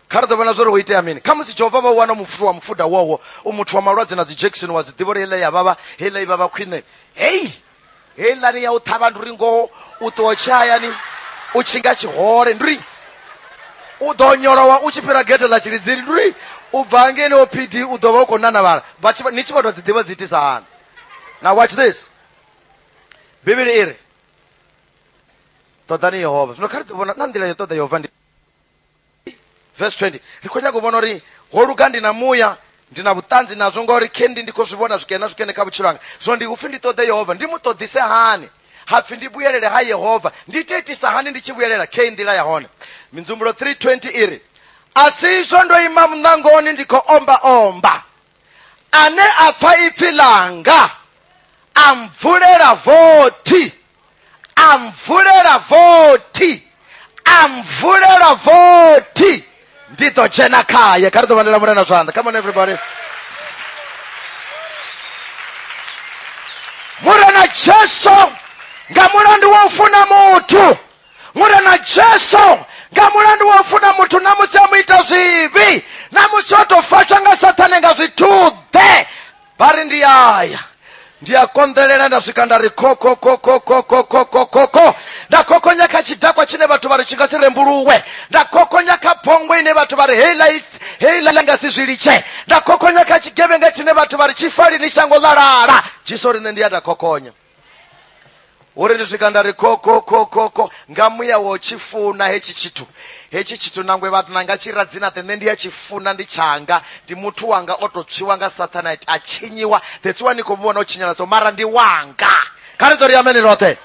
kha ri ḓo vhona zwori ho itea mini kha musi jehova vha u wana mupfuthu wa mufuda wowo u muthu wa malwadze na dzi jackson wa zwiḓivha uri heiḽa ya vhavha heiḽa i vhavha khwine hei heiḽani ya u ṱhavha ndi uri ngoho u ṱuwa tshihayani u tshinga tshihole ndi uri u ḓo nyolowa u tshi fhira gete ḽa tshilidzini ndi uri u bva ngeni o pd u ḓo vha u khou nanavhala Vha tshi- ni tshi vha tou dzi ḓivha dzi itisa hani na watch this bivhili i ri ṱoḓani yehova zwino kha ri vhona na nḓila yo ṱoḓa yehova ndi verse 20 ri khou nyaka u vhona uri ho luga ndi na muya ndi na vhuṱanzi nazwo ngauri kendi ndi khou zwi vhona zwikene na zwikene kha vhutshilo hanga zwino ndi upfhi ndi ṱoḓe yehova ndi mu ṱoḓise hani hapfi ndi vhuyelele ha yehova ndi ite itisa hani ndi tshi vhuyelela khe nḓila ya hone minzumbulo 320 iri a si izwo ndo ima muṋangoni ndi khou omba omba ane a pfa ipfi langa a mvulela vothi a mvulela vothi a mvulela vothi ndi ḓo dzhena khaye kha ri ḓo vhalela mulena zwanḓa come on everybody murena jesu nga mulandu wa u funa muthu mure na jesu nga mulandu wa u funa muthu na musi a mu ita zwivhi na musi o tou fatswa nga sathane nga zwithuḓe vha ri ndi aya ndi a konḓelela nda swika nda ri kokokokokokokokokoko nda kokonya kha tshidakwa tshine vhathu vha ri tshi nga si rembuluwe nda kokonya kha phongo ine vhathu vha ri heila heila nga si zwi litshe nda kokonya kha tshigevhenga tshine vhathu vha ri tshifalini shango ḽalala jesu ri nṋe ndi ya nda kokonya uri ndi swika nda ri kho kho kho kho kho nga muya wo tshi funa hetshi tshithu hetshi tshithu nangwe vhathu na nga tshi radzina the nṋe ndi a tshi funa ndi tshanga ndi muthu wanga o to tswiwa nga sathanite a tshinyiwa that's why ni khou vhona u tshinyala so mara ndi wanga kha ri dzo ri ameni roṱhe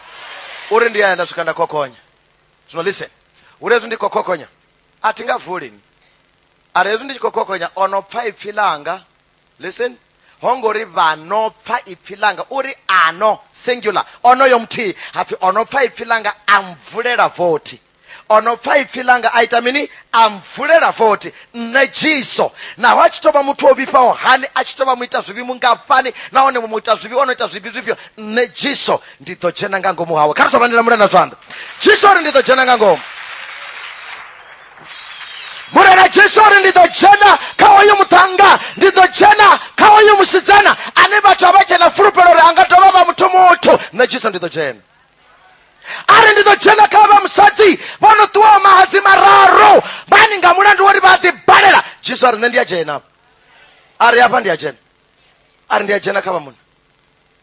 uri ndi aya nda swika nda khokhonya zwino listen uri hezwi ndi khou khokhonya a thi nga vulini ari hezwi ndi tshi khou khokhonya o no pfa ipfi ḽanga listen ho ngo ri vha no pfa ipfi langa uri ano singular onoyo muthihi hapfi o no pfa ipfi langa a mvulela vothi o no pfa ipfi langa a ita mini a mvulela vothi nṋe jiso naho a tshi tou vha muthu o vhifhaho hani a tshi tou vha mu ita zwivhi mungafhani nahone mu ita zwivhi o no ita zwivhi zwifhio nṋe jiso ndi ḓo dzhena nga ngomu hawe kha ri tou vha ndi lamula na zwanḓa jiso ri ndi ḓo dzhena nga ngomu murena jesu uri ndi ḓo dzhena kha oyu muṱhannga ndi ḓo dzhena kha oyu musidzana ane vhathu a vha dzhena fulufhelo uri a nga dovha vha muthu muthu nṋe jesu ndi ḓo dzhena ari ndi ḓo dzhena kha vha musadzi vho no ṱuwaho mahadzi mararu vhani nga mulandu wori vha ḓi balela jesu ari nṋe ndi a dzhena ari afha ndi a dzhena ari ndi a dzhena kha vha munna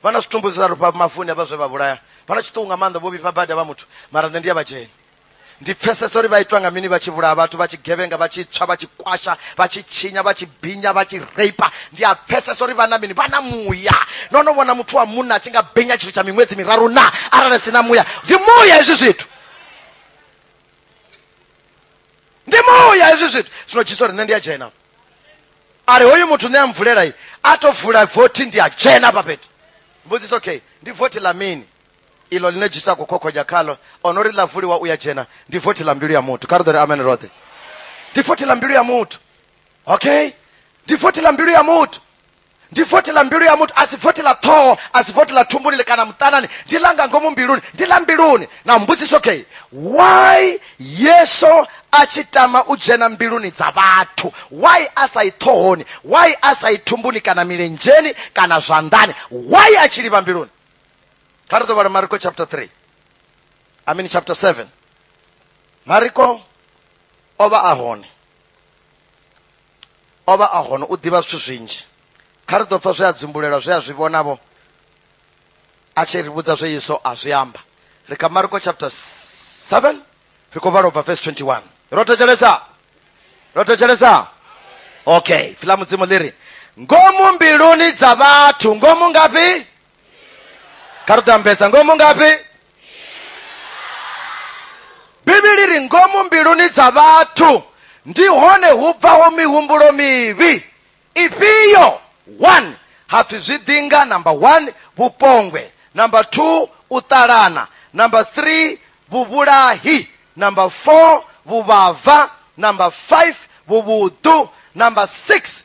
vha na zwitumbu zwiraru pa mafuni avha zwe vha vhulaya vha na tshiṱuku nga maanḓa vho vhifha badi vha muthu mara nṋe ndi ya vhadzheni ndi pfesesa uri vha itwa nga mini vha tshi vhulaya vhathu vha tshi gevhenga vha tshi tswa vha tshi kwasha vha tshi tshinya vha tshi binya vha tshi reipa ndi a pfesesa uri vha na mini vha na muya no no vhona muthu wa munna a tshi nga binya tshithu tsha miṅwedzi miraru na arali si na muya ndi muya hezwi zwithu ndi muya hezwi zwithu zwino jesu ri nṋe ndi a dzhena ari hoyu muthu ne amvulela iyi a to vula voti ndi a dzhena pa fhethu mbudziso okay ndi voti la mini ilo line jisa kukhokhonya khalo ono ri ḽa vuliwa u ya dzhena ndi voti la mbilu ya muthu kha ri ḓo ri amen roṱhe ndi voti la mbilu ya muthu okay ndi voti la mbilu ya muthu ndi vothi ḽa mbilu ya muthu a si vothi ḽa ṱhoho a si vothi ḽa thumbuni kana muṱanani ndi ḽa nga ngomu mbiluni ndi ḽa mbiluni na mbudziso okay why yesu a tshi tama u dzhena mbiluni dza vhathu why a sa i ṱhohoni why a sa i thumbuni kana milenzheni kana zwanḓani why a tshi livha mbiluni kha ri ḓo vhala mariko chapter 3 i mean chapter 7 mariko o vha a hone o vha a hone u ḓivha zwithu zwinzhi kha ri ḓo pfa zwe a dzumbulelwa zwe a zwi vhonavho a tshi ri vhudza zwe yesu a zwi amba ri kha marko chapter 7 ri khou vhala u bva verse 21 ro thetshelesa ro thetshelesa okay fila mudzimu ḽi ri ngomu mbiluni dza vhathu ngomu ngafhi kha ri tambesa ngomu ngafhi bivhili ri ngomu mbiluni dza vhathu ndi hone hu bvaho mihumbulo mivhi ifhio one hapfi zwiḓinga number one vhupongwe number two u ṱalana number three vhuvhulahi number four vhuvhava number five vhuvhuḓu number six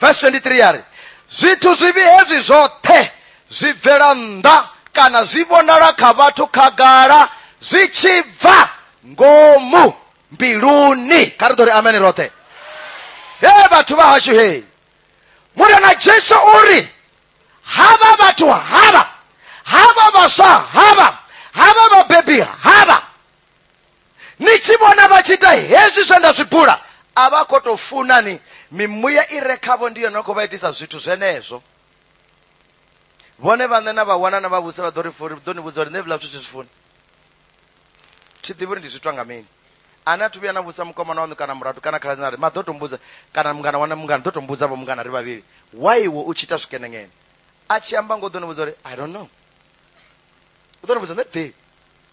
vesi 23 ya ri zwithu zwivhi hezwi zwoṱhe zwi bvela nnḓa kana zwi vhonala kha vhathu khagala zwi tshi bva ngomu mbiluni kha ri ḓo ri amene roṱhe he vhathu vha hashu he murena jesu o ri havha vhathu havha havha vhaswa havha havha vhabebi havha ni tshi vhona vha tshi ita hezwi zwe nda zwi bula a vha khou tou funa ni mimuya i re khavho ndi yone khou vha itisa zwithu zwenezwo vhone vhaṋe na vha wana na vhavhusi vha ḓo ri furi ḓo ni vhudza uri nṋe vhila zwithu zwi funi thi ḓivhi uri ndi zwitwa nga mini ane a thu vhuya na vhusa mukomana waṋu kana muratu kana khaladzi na ri ma ḓo tombudza kana mungana wana mungana ḓo tombudza vho mungana ri vhavhili why iwe u tshi ita zwikenengene a tshi amba ngo ḓo ni vhudza uri i don't know u ḓo ni vhudza nṋe ḓivhi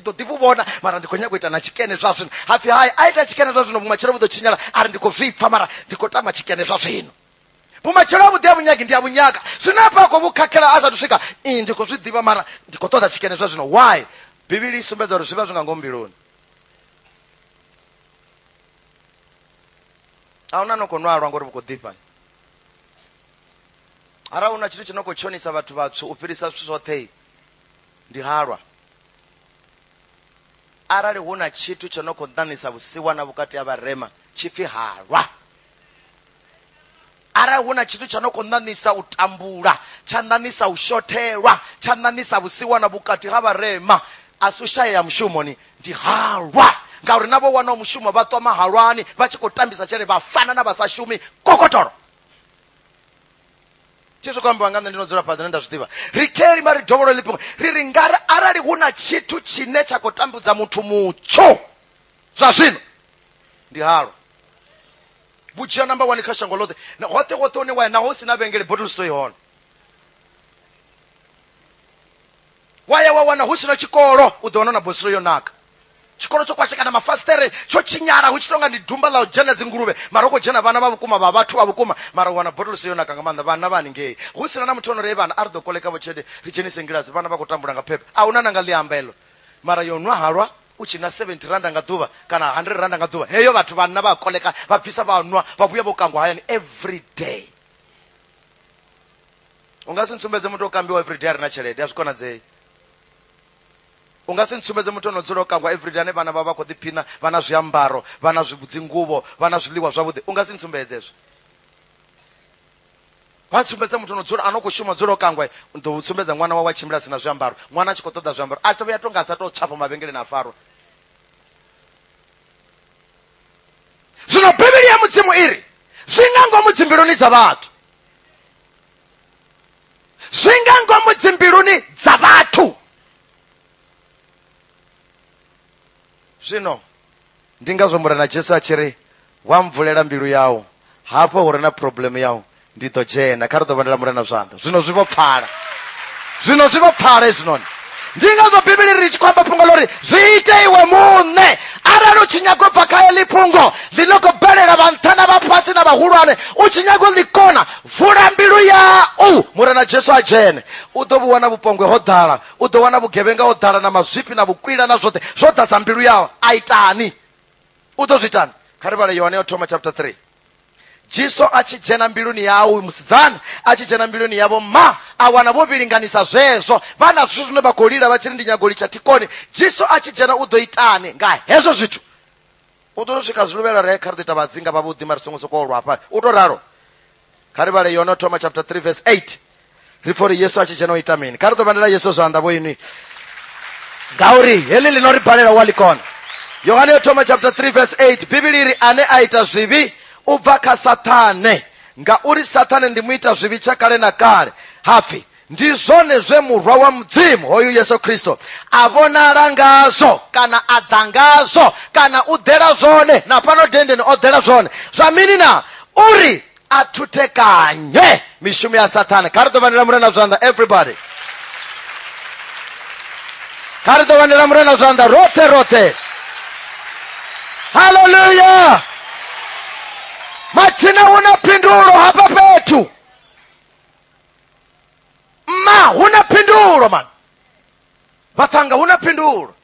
ndi ḓo ḓi vhu vhona mara ndi khou nyanga u ita na tshikene zwa zwino hapfi hai a ita tshikene zwa zwino vhumatshelo vhu ḓo tshinyala a ri ndi khou zwi pfa mara ndi khou tama tshikene zwa zwino vhumatshelo ha vhuḓi ha vhunyagi ndi a vhunyaka zwine hafha a khou vhu khakhela a sathu swika i ndi khou zwi ḓivha mara ndi khou ṱoḓa tshikene zwa zwino why bivhili i sumbedza uri zwi vha zwi nga ngomu mbiluni a huna no khou nwalwa ngori vhu khou ḓifha arali una tshithu tshi no khou tshonisa vhathu vhatswu u fhirisa zwithu zwoṱhe Ndi halwa arali hu na tshithu tsho no khou ṋaṋisa vhusiwana vhukati ha vharema tshi pfi halwa arali hu na tshithu tsha no khou ṋaṋisa u tambula tsha ṋaṋisa u shothelwa tsha ṋaṋisa vhusiwana vhukati ha vharema a si u shayea mushumoni ndi halwa ngauri na vho wanaho mushumo vha ṱwa mahalwani vha tshi khou tambisa tshelede vha fana na vha sa shumi kokotolo tshizwi khou ambiwa nga nṋe ndi no dzula fhadzi ne nda zwi ḓivha ri keli mari dovholo ḽi fhungo ri ri nga arali hu na tshithu tshine tsha khou tambudza muthu mutsho zwa zwino ndi halwa vhudzhia namba wani kha shango ḽoṱhe hoṱhe hoṱhe hune wa ya naho hu si na vhengele bottle store i hone wa ya wa wana hu si na tshikolo u ḓo wana na bosilo yo naka tshikolo tsho kwashekana mafasitere tsho tshinyala hu tshi tonga ndi dumba ḽa u dzhena dzinguluvhe mara u khou dzhena vhana vha vhukuma vha vhathu vha vhukuma mara u wana botolosi yo naka nga maanḓa vhana vha haningei hu sina na muthu ono rei vhana a ri ḓo kolekavho tshelede ri dzhenise ngilasi vhana vha khou tambula nga phephe a huna na nga ḽiamba elo mara yo nwa halwa u tshi na 70 randa nga ḓuvha kana 100 randa nga ḓuvha heyo vhathu vhanna vha koleka vha bvisa vha nwa vha vhuya vho kangwa hayani every day u nga si ntsumbedze muthu o kambiwa everyday a re na tshelede a zwi konadzei u nga si ntsumbedze muthu ono dzula o kangwa everyday ane vhana vha vha khou ḓiphina vha na zwiambaro vha na dzinguvho vha na zwiḽiwa zwavhuḓi u nga si ntsumbedze ezwo vha ntsumbedze muthu ono dzula ano khou shuma dzula o kangwa ḓo u tsumbedza ṅwana wawe a tshimbila si na zwiambaro ṅwana a tshi khou ṱoḓa zwiambaro a tovhuya to nga a sa tou tshafha mavhengeleni a farwa zwino bivhili ya mudzimu i ri zwi nga ngomu dzimbiluni dza vhathu zwi nga ngomu dzimbiluni dza vhathu zwino ndi ngazwo murena jesu a tshi ri wa mvulela mbilu yau hafho hu re na problemu yau ndi ḓo dzhena kha ri ḓo vhandela murena zwanḓa zwino zwi vho pfala zwino zwi vho pfala hezwinoni ndi ngazwo bivhili ri tshi khou amba fhungo ḽori zwi ite iwe muṋe arali u tshi nyago bva kha eḽi fhungo ḽi no khou bvelela vha nṱha na vha fhasi na vhahulwane u tshi nyago ḽi kona vula mbilu yau murena jesu a dzhene u ḓo vhu wana vhupongwe ho ḓala u ḓo wana vhugevhenga ho ḓala na mazwifhi na vhukwila na zwoṱhe zwo ḓadza mbilu yau a itani u ḓo zwi itani kha ri vhale yohane yo thoma chapter 3 jesu a tshi dzhena mbiluni yawe uyu musidzana a tshi dzhena mbiluni yavho ma a wana vho vhilinganisa zwezwo vha na zwithu zwine vha khou lila vha tshi ri ndi nyago litsha thikoni jesu a tshi dzhena u ḓo itani nga hezwo zwithu u ḓo to swika zwiluvhela re kha ri ḓo ita vhadzinga vhavhuḓi mari songo sokou lwa hafha u to ralo kha ri vhale yono thoma chapter 3 verse 8 ri pfori yesu a tshi dzhena u ita mini kha ri ḓo vhandela yesu zwanḓa vho inwi ngauri heḽi ḽi no ri balela wa ḽikona yohane yo thoma chapter 3 verse 8 bivhili ri ane a ita zwivhi u bva kha sathane ngauri sathane ndi mu ita zwivhi tsha kale na kale hapfi ndi zwone zwe murwa wa mudzimu hoyu yesu khristo a vhonala ngazwo kana a ḓa ngazwo kana u ḓela zwone na fhano dendeni o ḓela zwone zwa mini na uri a thuthekanye mishumo ya sathane kha ri ḓo vhandela murena zwanḓa everybody kha ri ḓo vhandela murena zwanḓa roṱhe roṱhe haleluya matsina hu na phindulo hafha fhethu mma hu na phindulo mani vhathanga hu na phindulo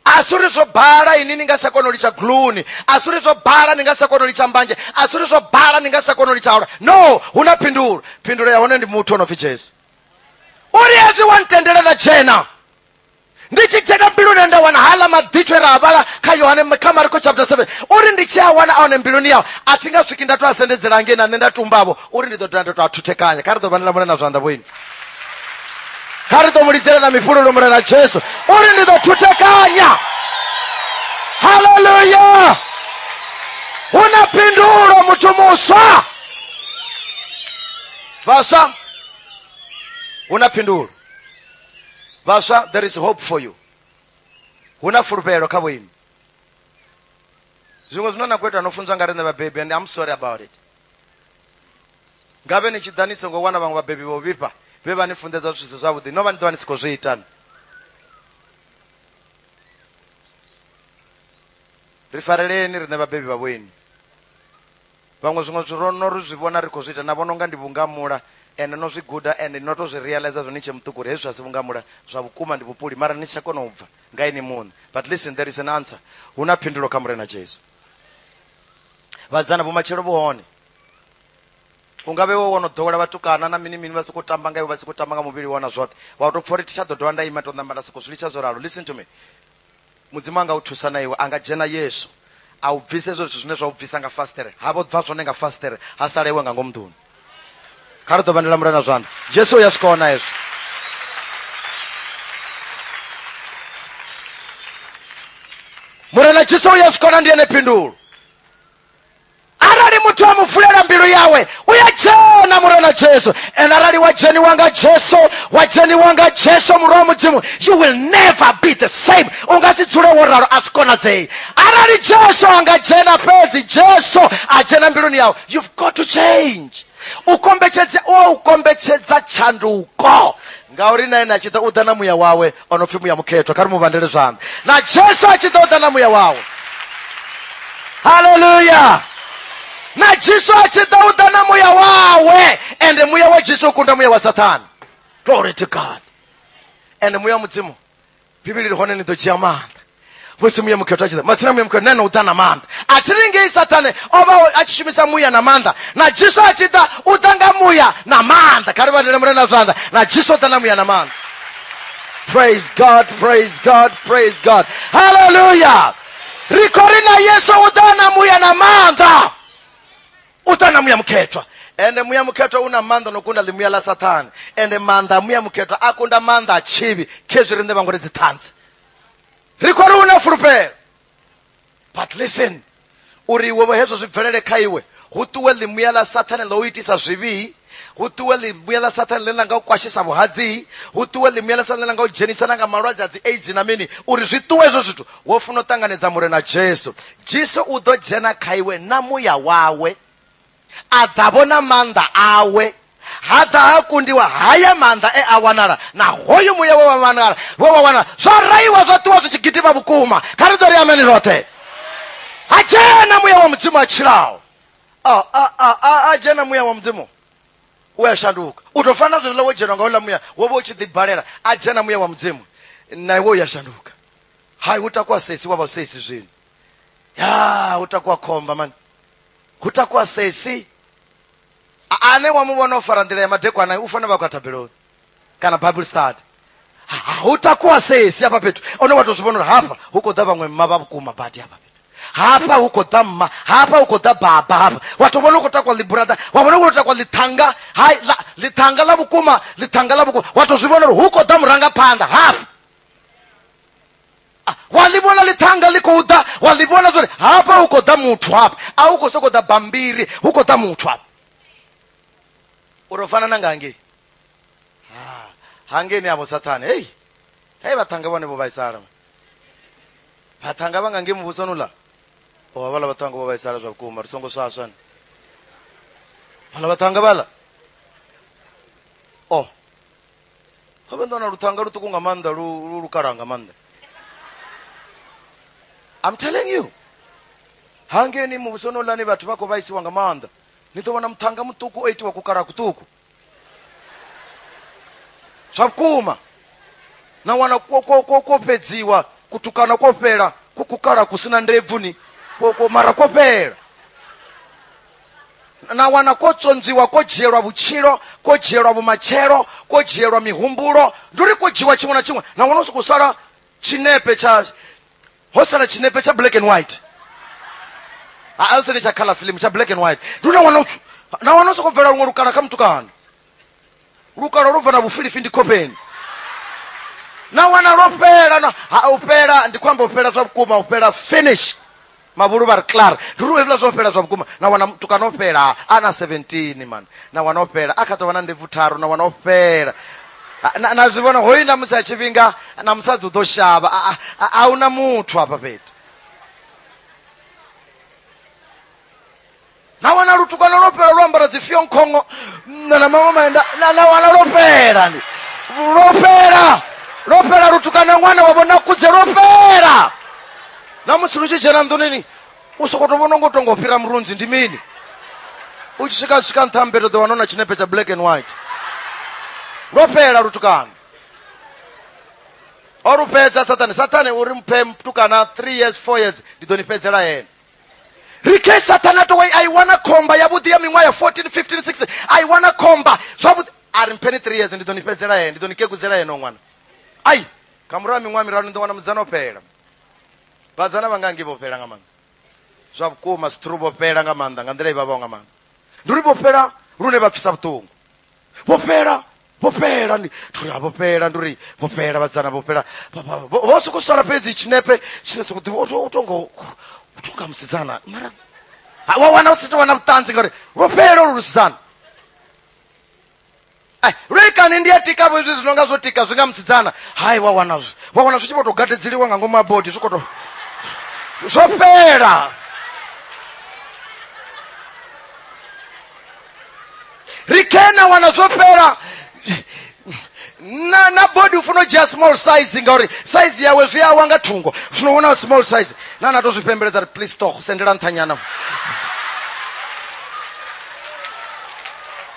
asuri zwo bala ini ni nga sa kona u litsha gluni asuri zwo bala ni nga sa kona u litsha mbanje asuri zwo bala ni nga sa kona u litsha ola no hu na phindulo phindulo ya hone ndi muthu o no pfi jesu uri hezwi wa ntendela nda dzhena ndi tshi dzhena mbiluni nda wana hala maḓithwe ra a vhala kha yohane kha mariko chapter 7 uri ndi tshi a wana a hone mbiluni yawo a thi nga swiki nda to a sendedzela ngei na nṋe nda tumbavho uri ndi ḓo dovha nda to a thuthekanya kha ri ḓo vhandela mune na zwanḓa vhoini kha ri ḓo mu lidzela na mifhululu murena jesu uri ndi ḓo thutekanya haleluya hu na phindulo muthu muswa vhaswa hu na phindulo vhaswa there is hope for you hu na fulufhelo kha vhoimi zwiṅwe zwine na khou ita no funzwa nga riṋe vhabebi and i'm sorry about it Ngavhe ni tshi ḓa ni songo wana vhaṅwe vhabebi vho vhifha vhe vha ni funḓedza zwithu zwi si zwavhuḓi, no vha ni ḓo vha ni si khou zwi ita. ni. Ri fareleni riṋe vhabebi vha vhoinwi. Vhaṅwe zwiṅwe zwithu ro no ri zwi vhona ri khou zwi ita na vhona unga ndi vhungamula ende no zwi guda ende no tou zwi realizer zwo ni tshe muṱuku uri hezwi a si vhungamula zwa vhukuma ndi vhupuli mara ni si tsha kona u bva nga ini muṋe. But listen there is an answer. Hu na phindulo kha Murena Jesu. Vhasidzana vhumatshelo vhu hone. u nga vhe wo wono ḓowela vhatukana na mini mini vha sokou tamba nga iwe vha sokou tamba nga muvhili wona zwoṱhe wa tou pfha uri tsha ḓo dovha nda ima to namba nda sokou zwi litsha zwo ralo listen to me mudzimu anga u thusa na iwe a nga dzhena yesu a u bvisa hezwo zwithu zwine zwa u bvisa nga fastere ha vho bva zwone nga fastere ha sala iwe nga ngomu nḓuni kha ri ḓo vhandela mulana zwanḓa jesu u ya swika ona hezwo murena jesu u ya swika ona ndi ene phindulo arali muthu a mu vulela mbilu yawe u ya dzhena murena jesu and arali wa dzheniwa nga jesu wa dzheniwa nga jesu murwa wa mudzimu you will never be the same u nga si dzule wo ralo a zwi konadzei arali jesu a nga dzhena fhedzi jesu a dzhena mbiluni yawe you've got to change u kombetshedza u kombetshedza tshanduko ngauri na ene a tshi ḓa u ḓa na muya wawe o no pfi muya mukhethwa kha ri mu vhandele zwanḓa na jesu a tshi ḓa u ḓa na muya wawe haleluya na jesu a tshi ḓa u ḓa na muya wawe ende muya wa jesu u kunda muya wa sathana glory to god ende muya wa mudzimu bivhili ri hone ni ḓo dzhia maanḓa musi muya mukhethwa tshi ḓa matsina muya mukhethwa nane u ḓa na maanḓa a thi ri ngei sathane o vha o- a tshi shumisa muya na maanḓa na jesu a tshi ḓa u ḓa nga muya na maanḓa kha ri vhalele mure na zwanḓa na jesu o ḓa na muya na maanḓa praise god praise god praise god haleluya ri khou ri na yesu u ḓa na muya na maanḓa u ṱa na muya mukhethwa ende muya mukhethwa u na maanḓa no kunda ḽimuya ḽa sathane ende maanḓa a muya mukhethwa a kunda maanḓa a tshivhi khezwi riṋe vhango ri dziṱhanzi ri khou ri u na fulufhelo but listen uri iwe vho hezwo zwi bvelele kha iwe hu ṱuwe ḽimuya ḽa sathane ḽo u itisa zwivhii hu ṱuwe ḽimuya ḽa sathane ḽe ḽa nga u kwashisa vhuhadzii hu ṱuwe ḽimuya ḽa sathane ḽa nga u dzhenisana nga malwadze a dzi aids na mini uri zwi ṱuwe hezwo zwithu wo funa u ṱanganedza murena jesu jesu u ḓo dzhena kha iwe na muya wawe a ḓa vhona maanḓa awe ha ḓa ha kundiwa haya maanḓa e a wanala na hoyu muya we wa wanala we wa wanala zwo raiwa zwa ṱuwa zwi tshi gidima vhukuma kha ri ḓo ri ameni roṱhe ha dzhena muya wa mudzimu a tshilaho a a a a a dzhena muya wa mudzimu u a shanduka u tou fana na zwenezwiḽa wo dzhenwa nga uḽa muya wo vha u tshi ḓibalela a dzhena muya wa mudzimu na iwe u ya shanduka hai u takuwa sesi wa vha u sesi zwino ya u takuwa khomba mani hu takuwa sesi A- ane wa mu vhona o fara nḓila ya madekwana u fanela vha khou ya thabeloni kana bible study Ha- ha- hu takuwa sesi hafha fhethu one wa to zwi vhona uri hafha hu khou ḓa vhaṅwe mma vha vhukuma badi hafha fhethu hafha hu khou ḓa mma hafha hu khou ḓa baba hafha wa to vhona u khou takwa ḽiburada wa vhona u khou takwa ḽithanga hai ḽa- ḽithanga ḽa vhukuma ḽithanga ḽa vhukuma wa to zwi vhona uri hu khou ḓa murangaphanḓa hafha Ah, wa ḽi vhona ḽithanga ḽi khou ḓa wa ḽi vhona zwori hafha hu khou ḓa muthu hafha a hu khou sokou ḓa bambiri hu khou ḓa muthu hafha uri u fana na nga ngei Ah, hangeni avo sathane hei hei vathanga vane vo vaisala mwe. vathanga va nga nge muvhusoni ula o havhala vhathanga vho vhaisala zwa vhukuma ri songo swaswa ni vhala vhathanga vhala o ho vhe ndona luthanga luṱuku nga maanḓa lu lu lukalaha nga maanḓa i'm telling you hangeni muvhusoni ulani vhathu vha khou vhaisiwa nga maanḓa ni ḓo vhona muthanga muṱuku o itiwa kukalaha kuṱuku zwa vhukuma na wana kwo kwo kwo kwo fhedziwa kutukana kwo fhela ku kukala ku sina ndebvu ni kwo kwo mara kwo fhela na wana kwo tsonziwa kwo dzhielwa vhutshilo kwo dzhielwa vhumatshelo kwo dzhielwa mihumbulo ndi uri kwo dzhiwa tshiṅwe na tshiṅwe na wana u sokou sala tshinepe tsha ho sala tshinepe tsha black and white ha alsene tsha color film tsha black and white ndi una wana utsu na wana soko bvela luṅwe lukala kha mutukana lukala lwo bva na vhufilifi ndi khopeni na wana lwo fhela na ha u fhela ndi khou amba u fhela zwa vhukuma u fhela finish mavhulu vha ri clar ndi uri hezwiḽa zwo fhela zwa vhukuma na wana mutukana o fhela a na 17 man na wana o fhela a kha ḓo vha na ndebvu tharu na wana o fhela Ah, na na zwi vhona hoyu na musi a tshifhinga na musadzi u ḓo shavha a- a- a- a hu na muthu hafha fhethu na wana lutukwana lwo fhela lwo ambara dzi fionkhongo na na maṅwe maenda na na wana lwo fhela ndi lwo fhela lwo fhela lutukana ṅwana wa vhona kudze lwo fhela na musi lu tshi dzhena nḓunini u soko to vhona ngo to ngo fhira murunzi ndi mini u tshi swika swika nṱha mbeto ḓo wana na tshinepe tsha black and white lwo fhela lutukano o lu fhedza sathane sathane uri mphe mtukana three years four years ndi ḓo ni fhedzela yena rike sathane a towe a i wana khomba yavhuḓi ya miṅwaha ya 14 15 16 a i wana khomba zwavhuḓi a ri mpheni three years ndi ḓo ni fhedzela yena ndi ḓo ni kekudzela yena ṅwana ai kha murahu ha miṅwaha miraru ni ḓo wana mudzana o fhela vhadzana vha ngangi vho fhela nga maanḓa zwa vhukuma sithuru vho fhela nga maanḓa nga nḓila i vhavhaho nga maanḓa ndi uri vho fhela lune vha pfisa vhuṱungu vho fhela vho fhela ndi uri vho fhela ndi uri vho fhela vhadzana vho fhela vho soko sala fhedzi tshinepe tshine soko ḓivha u tonga u tonga musidzana mara wa wana u si to wana vhuṱanzi ngauri lwo fhela olu lusidzana Ai, lwekani ndi yatikavho izwi zwi no nga zwo tika zwi nga musidzana hai wa wana zwi wa wana zwi tshi vho tou gadedzeliwa nga ngomu ha bodi zwi khou to zwo fhela ri kena wana zwo fhela na na body ufuna u dzhia small size ngauri size yawe zwi awa nga thungo zwino wona small size na na to zwi pembeledza ri please toch sendela nṱhanyana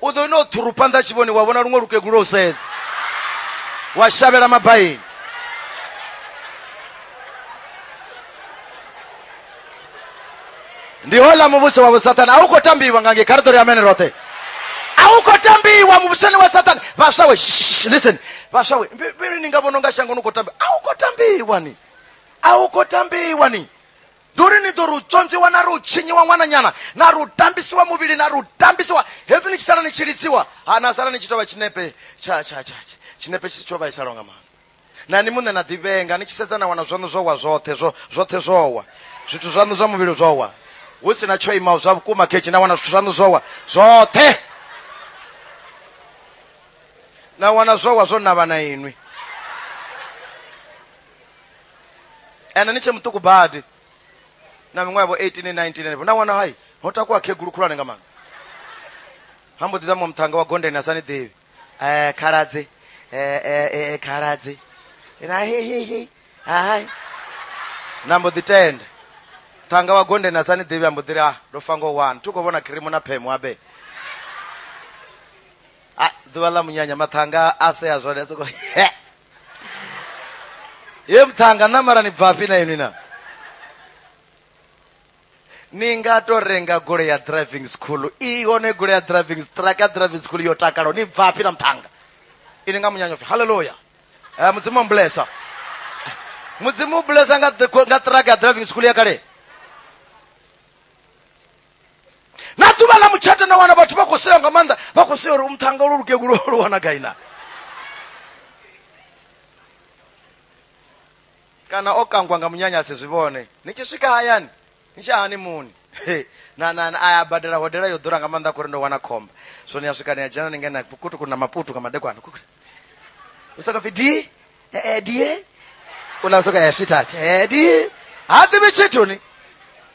u ḓo no ṱhuru phanḓa a tshi vhoni wa vhona luṅwe lukegulu u sedza wa shavhela mabaini ndi hola muvhuso wa vhusathana a u khou tambiwa nga nge kharetori ya mene roṱhe a u khou tambiwa muvhusoni wa sathana vhaswa we shh, listen vhaswa we mbi- mbi- ni nga vhona unga shango ni khou tambiwa a u khou tambiwa ni a u khou tambiwa ni ndi uri ni ḓo ri u tswonzwiwa na ri u tshinyiwa ṅwananyana na ri u tambisiwa muvhili na ri u tambisiwa hepfi ni tshi sala ni tshi lidziwa ha na sala ni tshi tou vha tshinepe tsha tsha tsha tsha- tshinepe tshi tsho vhaisala nga maanḓa na ni muṋe na ḓivhenga ni tshi sedza na wana zwaṋu zwo wa zwoṱhe zwo zwoṱhe zwo wa zwithu zwaṋu zwa muvhili zwo wa hu si na tsho imaho zwa vhukuma khetshe na wana zwithu zwaṋu zwo wa zwoṱhe na wana zwo wa zwo navha na inwi ene ni tshe muṱuku badi na miṅwaha vho 18 19 henefho na wana hai ho takuwa khegulu khulwane nga maanḓa ha mbo ḓi ḓa muṅwe muṱhannga wa gondeni a sa ni ḓivhi um khaladzi um khaladzi na hehehe hai na mbo ḓi tenda ṱhanga wa gondeni a sa ni ḓivhi a mbo ḓi ri a ndo fa ngo wani thi khou vhona khirimu na phemu abe a ḓuvha ḽa munyanya maṱhanga a sea zwone a soko ye mthanga na mara ni bvafhi na inwi na ni nga to renga gole ya driving school i hone gole ya driving truck ya driving school yo takalo ni bvafhi na mthanga ini nga munyanyo pfi haleluya eh, mudzimu ambulesa mudzimu ubulesa nga, nga truck ya driving school ya kale na ḓuvha ḽa mutshato na wana vhathu vha khou sewa nga maanḓa vha khou sewa uri umthanga lu lukegulu lu wana gai na kana o kangwa nga munyanyasi zwi vhone ni tshi swika hayani ni tshi hani muni na na a ya badela hodela yo ḓura nga maanḓa khori ndo wana khomba so ni ya swika ni ya dzhena ni ngena kutuku na maputu nga madekwana kukuti u saka pfi di edie u la soka ya sweetheart edie ha ḓivhi tshithu ni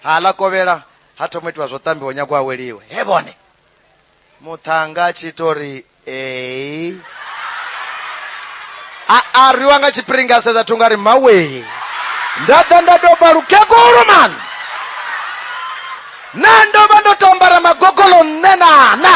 ha ḽa kovhela ha thoma itiwa zwo ṱambiwa nyago aweliwe he vhone muṱhanga a tshi ito ri ee a a rwiwa nga tshipiringa a sedza thunga ri mawee nda ḓa nda doba lukegulu man na ndo vha ndo to ambara magogolo nṋe na na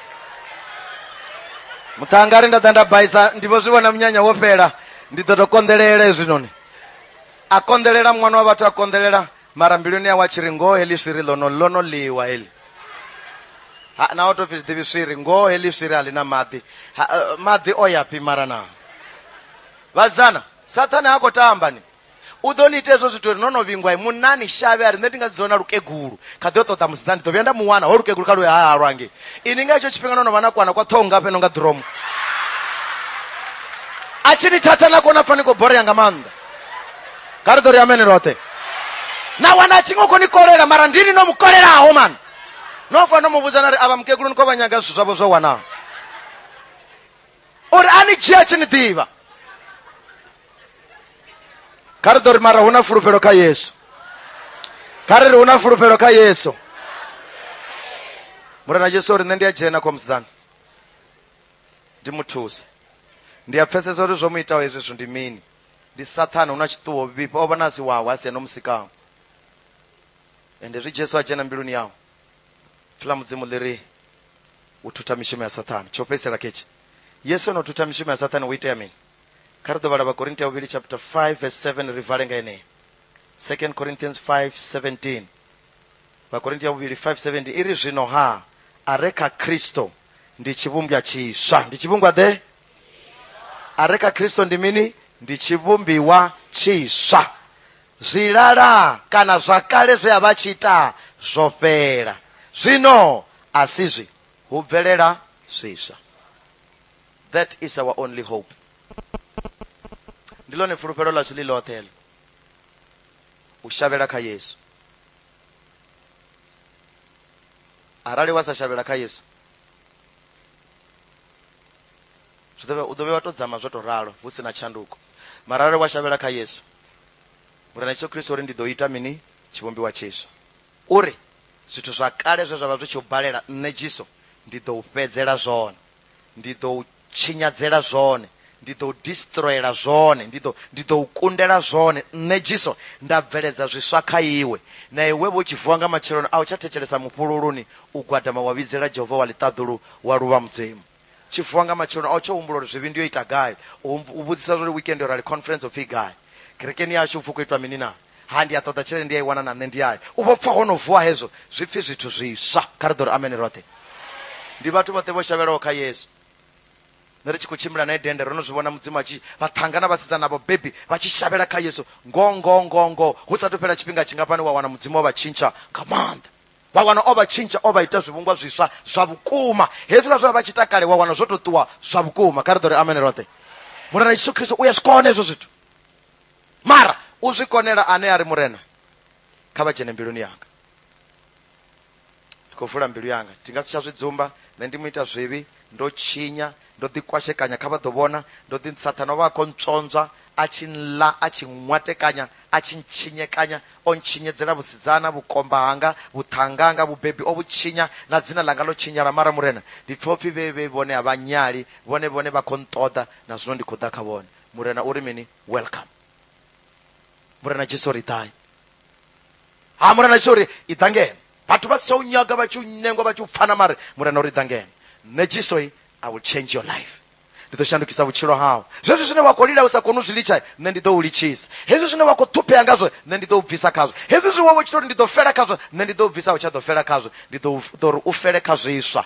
muṱhanga ari nda ḓa nda baisa ndi vho zwi vhona munyanya wo fhela ndi ḓo to konḓelela hezwinoni a konḓelela muṅwana wa vhathu a konḓelela mara mbiluni yawe a tshi ri ngoho heḽi swiri ḽono ḽono ḽiwa heḽi Ha, na o to pfi ḓivhi swiri ngoho heḽi swiri a ḽi na maḓi Ha, eh, maḓi o ya phi mara na vhasidzana sathane ha khou tamba ni u ḓo ni ita hezwo zwithu uri no no vhingwa munna ni shavhe a ri nṋe ndi nga dzi dzona lukegulu kha ḓi o ṱoḓa musidzana ndi ḓo vhuya nda mu wana ho lukegulu kha luya ha lwange ini nga hetsho tshifhinga no no vha na kwana kwa ṱhoho nga fheno nga ḓiromo a tshi ni thatha na kona pfa ni khou borea nga maanḓa nga ri ḓo ri amene roṱhe na wana a tshi nga u khou ni kolela mara ndini no mu kolelaho mani no fa no mu vhudza na ri avha mukegulu ni khou vha nyaga zwithu zwavho zwo wanaho uri a ni dzhia tshi ni ḓivha kha ri ḓo ri mara hu na fulufhelo kha yesu kha ri ri hu na fulufhelo kha yesu murena jesu uri nṋe ndi a dzhena kwa musidzana ndi mu thuse ndi a pfesesa uri zwo mu itaho hezwi zwithu ndi mini ndi sathana hu na tshiṱuwo vhifha o vha na si wawe a si ene o musikaho ende zwi jesu a dzhena mbiluni yawe pfi ḽa mudzimu ḽi ri u thutha mishumo ya sathane tsho fhedzisela ketshi yesu ono thutha mishumo ya sathane hu itea mini kha ri ḓo vhala vhakorinti ya vhuvhili chapter 5 verse 7 ri vale nga yeneyi 2 corinthians 5 17 vhakorinti ya vhuvhili 5 17 i ri zwino ha a re kha kristo ndi tshivhumbwa tshiswa ndi tshivhumbwa ḓe a re kha kristo ndi mini ndi tshivhumbiwa tshiswa Zwilala kana zwa kale zwe a vha tshi ita zwo fhela. Zwino a si zwi, hu bvelela zwiswa. That is our only hope. Ndi ḽone fulufhelo ḽashu ḽi ḽoṱhe heḽo. U shavhela kha Yesu. Arali wa sa shavhela kha Yesu, Zwi ḓo vhe u ḓo vhe wa to dzama zwo to ralo hu si na tshanduko. Mara arali wa shavhela kha Yesu, Murena Yesu Kristo uri ndi ḓo ita mini tshivhumbiwa tshiswa. Uri zwithu zwa kale zwe zwa vha zwi tshi u balela nṋe Jesu ndi ḓo u fhedzela zwone. Ndi ḓo u tshinyadzela zwone. Ndi ḓo u destroyela zwone. Ndi ḓo ndi ḓo u kundela zwone. Nṋe Jesu nda bveledza zwiswa kha iwe. Na iwe vho tshi vuwa nga matsheloni a u tsha thetshelesa mufhululuni u gwadama wa vhidzela Jehova wa ḽiṱaḓulu wa luvha Mudzimu. tshi vuwa nga matsheloni a u tsho humbula uri zwivhi ndi yo ita gai u humbu- u vhudzisa zwa uri weekend yo rali conference upfi i gai kerekeni yashu upfi u khou itwa mini na ha ndi a ṱoḓa tshelede ndi a i wana na nṋe ndi yayo u vho pfa ho no vuwa hezwo zwi pfi zwithu zwiswa kha ri ḓo ri amene roṱhe ndi vhathu vhoṱhe vho shavhelaho kha yesu nṋe ri tshi khou tshimbila nae dende ro no zwi vhona mudzimu a tshi vha ṱhanga na vhasidzana vho bebi vha tshi shavhela kha yesu ngo ngo ngo ngo hu sa tou fhela tshifhinga tshingafhani wa wana mudzimu wa vha tshintsha nga maanḓa vha wana o vha tshintsha o vha ita zwivhungwa zwiswa zwa vhukuma hezwiḽa zwe vha vha tshi takale wa wana zwo to ṱuwa zwa vhukuma kha ri ḓo ri amene roṱhe murena yesu khristo u ya zwi kona hezwo zwithu mara u zwi konela ane a ri murena kha vha dzhene mbiluni yanga ndi khou vula mbilu yanga ndi nga si tsha zwi dzumba nṋe ndi mu ita zwivhi ndo tshinya ndo ḓi kwashekanya kha vha ḓo vhona ndo ḓi sathana vha kho ntswonzwa a tshi nla a tshi nwatekanya a tshi ntshinyekanya o ntshinyedzela vhusidzana vhukomba hanga vhuṱhanga nga vhubebi o vhutshinya na dzina ḽanga ḽo tshinyala mara murena ndi pfha upfhi vhe vhe vhone a vha nyali vhone vhone vha khou nṱoḓa na zwino ndi khou ḓa kha vhone murena uri mini welcome murena jesu ri ḓai ha murena jesu uri i ḓa ngeno vhathu vha si tsha u nyaga vha tshi u nengwa vha tshi u pfana mare murena uri ḓa ngeno nṋe jesu i i will change your life ndi ḓo shandukisa vhutshilo hau zwezwi zwine wa khou lila u sa koni u zwi litsha nṋe ndi ḓo u litshisa hezwi zwine wa khou ṱhuphea ngazwo nṋe ndi ḓo u bvisa khazwo hezwi zwi wawe tshi tori ndi ḓo fela khazwo nṋe ndi ḓo u bvisa u tsha ḓo fela khazwo ndi ḓo u- ḓo ri u fele kha zwiswa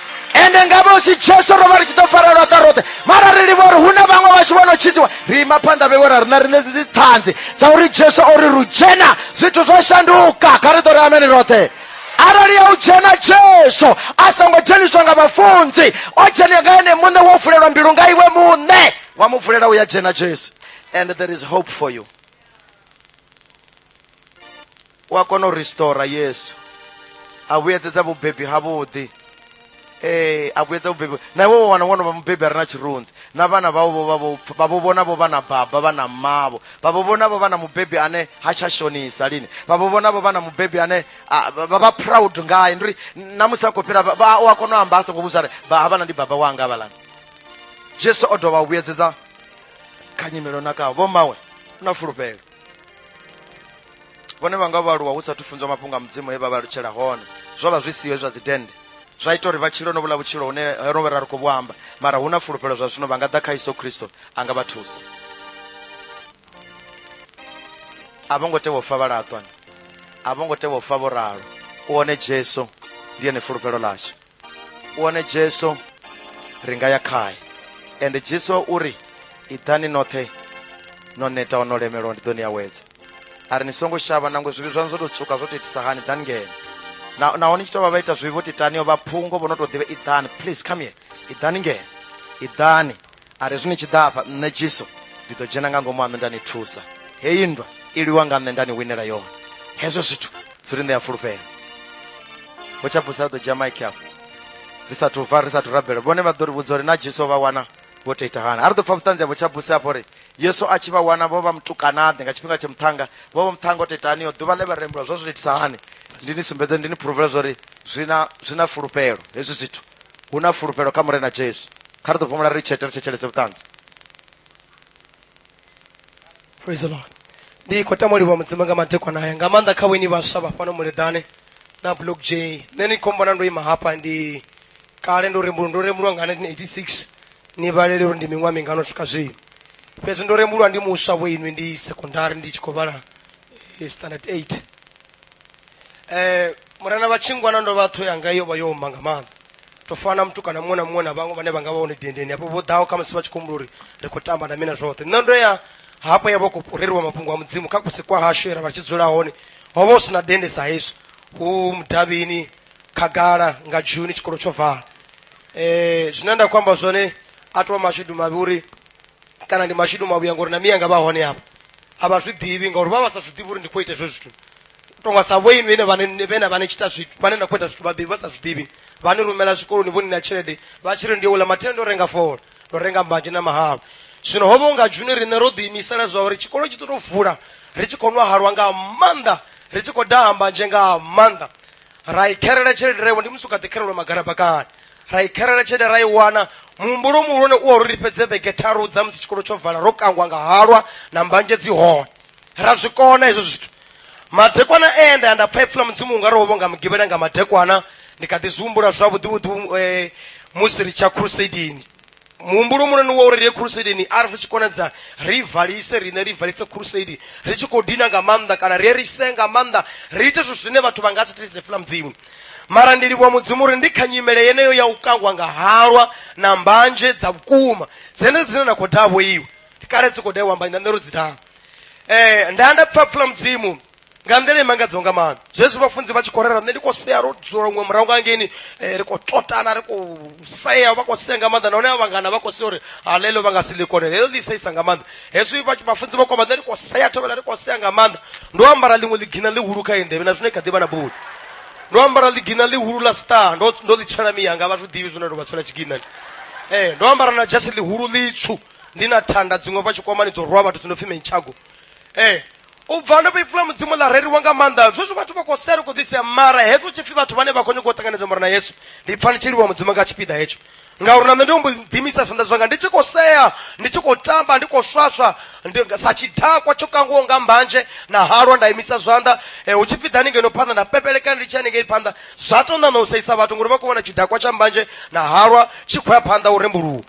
ende nga vhosi jesu ro vha ri tshi ḓo farelwa ka roṱhe mara ri livha uri hu na vhaṅwe vhashu vho no tshidziwa ri ima phanḓa vhewe ra ri na riṋe dzi dziṱhanzi dza uri jesu o ri ru dzhena zwithu zwo shanduka kha ri ḓo ri amene roṱhe arali ya u dzhena jesu a songo dzheniswa nga vhafunzi o dzhena nga ene muṋe wo vulelwa mbilu nga iwe muṋe wa mu vulela u ya dzhena jesu and there is hope for you u a kona u restora yesu a vhuyedzedza vhubebi havhuḓi ee a vhuyedza vhubebi na iwe wo wana wono vha mubebi a re na tshirunzi na vhana vhao vho vha vho- vha vho vhona vho vha na baba vha na mmavho vha vho vhona vho vha na mubebi ane ha tsha shonisa lini vha vho vhona vho vha na mubebi ane a, vha vha vha proud ngaye ndi uri na musi a khou fhira vha- vha- u a kona u amba a songo vhudza uri vha havhala ndi baba wanga havhalani jesu o dovha a vhuyedzedza kha nyimelo na kao vho mawe na fulufhelo vhone vha nga vha aluwa hu sathu funzwa mafhungo a mudzimu he vha vha lutshela hone zwo vha zwi siho zwa dzidennde zwa ita uri vha tshilo no vhula vhutshilo hune hono vhe ra ri khou vhu amba mara hu na fulufhelo zwa zwino vha nga ḓa kha yesu khristo a nga vha thusa a vho ngo tea u fa vha laṱwa a vho ngo tea u fa vho ralo u one jesu ndi ene fulufhelo ḽashu u wane jesu ri nga ya khae ende jesu o ri iḓani noṱhe no netaho no lemelwa ndi ḓo ni awedza a ri ni songo shavha nangwe zwivhi zwaṋu zwo tou tswuka zwo tou itisa hani ḓani ngeno Na- naho ni tshi tou vha vha ita zwivhi vho titaniho vha phungo vho no tou ḓivha iḓani please come here iḓani ngeno iḓani a ri zwino tshi ḓa afha nṋe jesu ndi ḓo dzhena nga ngomu aṋu nda ni thusa heyi nndwa i lwiwa nga nṋe nda ni winela yone hezwo zwithu zwi ri ṋea fulufhelo hu tsha busa ḓo dzhia maiki afho ri sathu bva ri sathu rabela vhone vha ḓo ri vhudza uri na jesu o vha wana vho tou ita hani a ri ḓo pfa vhuṱanzi havho tsha busa afho uri yesu a tshi vha wana vho vha mutukanaḓe nga tshifhinga tsha muṱhanga vho vha muṱhanga o tou itaniyo ḓuvha ḽe vha rembula zwo zwi itisa hani ndi ni sumbedze ndi ni phuruvela zwa uri zwi na zwi na fulufhelo hezwi zwithu hu na fulufhelo kha murena jesu kha ri ḓo fhumula ri tshete ri thetshelese vhuṱanzi praise the lord ndi khou tama u livha mudzimu nga madekwana haya nga maanḓa kha vhoini vhaswa vha fhano muleḓane na block j nṋe ni khou mbona ndo ima hafha ndi kale ndo rembulwa ndo rembulwa nga 1986 ni vhalele uri ndi miṅwaha mingano swika zwino fhedzi ndo rembulwa ndi muswa vho inwi ndi secondary ndi tshi khou vhala eh, standard 8 eh murena vha tshingwana ndo vha ṱho yanga yo vha yo omba nga maanḓa to fana na mutukana muṅwe na muṅwe na vhaṅwe vhane vha nga vha hone dendeni hafho vho ḓaho kha musi vha tshi khou humbula uri ri khou tamba na mina zwoṱhe nṋe ndo ya hafho ya vha khou fhureliwa mafhungo a mudzimu kha kusi kwa hashu era vha tshi dzula hone ho vha hu si na dende sa hezwi hu mudavhini khagala nga juni tshikolo tsho vala um zwine nda khou amba zwone a to mashudu mavhi uri kana ndi mashidu mavhuya ngori na miyanga vha hone hapa a vha zwi ḓivhi ngauri vha vha sa zwi ḓivhi uri ndi khou ita hezwo zwithu tonga sa vho inwi ine vhane- vhena vhane tshita zwithu vhane na khou ita zwithu vhabebi vha sa zwi ḓivhi vha ni rumela zwikoloni vho ni na tshelede vha tshi ri ndi ula mathenda o renga fola ndo renga mbanzhe na mahalwa zwino ho vha unga juni riṋe ro ḓiimisela zwa uri tshikolo tshi ḓo tou vula ri tshi khou nwa halwa nga maanḓa ri tshi khou daha mbanzhe nga maanḓa ra i kherela tshelede ra i wana ndi musi u kha ḓi kherelwa magalabakani ra i kherela tshelede ra i wana muhumbulo muhulwane u wa uri ri fhedze vhege tharu dza musi tshikolo tsho vala ro kangwa nga halwa na mbanzhe dzi hone ra zwi kona hezwo zwithu madekwana e nda ya nda pfa ipfula mudzimu unga ri wo vhonga mugivhela nga madekwana ndi kha ḓi zwi humbula zwavhuḓi vhuḓi eh, musi ri tsha crusadini muhumbulo munani wa uri ri ye khurusedeni a ri zwi tshi konadza ri valise riṋe ri valise khurusedi ri tshi khou dina nga maanḓa kana ri ye ri se nga maanḓa ri ite zwithu zwine vhathu vha nga si thetshe fula mudzimu mara ndi livhuwa mudzimu uri ndi kha nyimele yeneyo ya u kangwa nga halwa na mbanzhe dza vhukuma dzenedzo dzine na khou davho iwe kale dzi khou daiwa mbanzhe na nṋe ro dzi daha um nda nda pfa pfula mudzimu nga nḓila i mangadzaho nga maanḓa zwezwi vhafunzi vha tshi khou rera nṋe ndi khou sea ro dzula luṅwe murahu nga ngeni eh, ri khou tlotana ri khou sea vha khou sea nga maanḓa nahone a vhangana vha khou sea uri hala heḽo vha nga si ḽikone heḽo ḽi saisa nga maanḓa hezwi vhafunzi vha kwamba nṋe ri khou sea thovhela ri khou sea nga maanḓa ndo ambara ḽiṅwe ḽigina ḽihulu kha endevhe na zwino i kha ḓivha na buli ndo ambara ḽigina ḽihulu ḽa star ndo ndo ḽi tshela miyanga vha zwi ḓivhi zwine ndo vha tshela tshigina ee eh, ndo ambara na jasi ḽihulu ḽitswu ndi na thanda dziṅwe vha tshikwamani dzo rwa vhathu dzi no pfi menchago ee eh, u bva ndo vhoipfula mudzimu ḽa reriwa nga maanḓa zwezwi vhathu vha khou sela khou ḓisea mara hezwo tshipfi vhathu vhane vha khou nyanga u ṱanganedza mara na yesu ndi pfa ndi tshi livhuwa mudzimu nga tshipiḓa hetsho ngauri na nṋe ndi ombo ḓimisa zwanḓa zwanga ndi tshi khou sea ndi tshi khou tamba ndi khou swaswa sa tshidakwa tsho kangiwaho nga mbanzhe na halwa nda imisa zwanḓa eh, hu tshi pfi ḓani ngeno phanḓa nda pepelekana ndi tshi ya ningei phanḓa zwa to ṋaṋa u seisa vhathu ngori vha khou vhona tshidakwa tsha mbanzhe na halwa tshi khou ya phanḓa u rembuluwa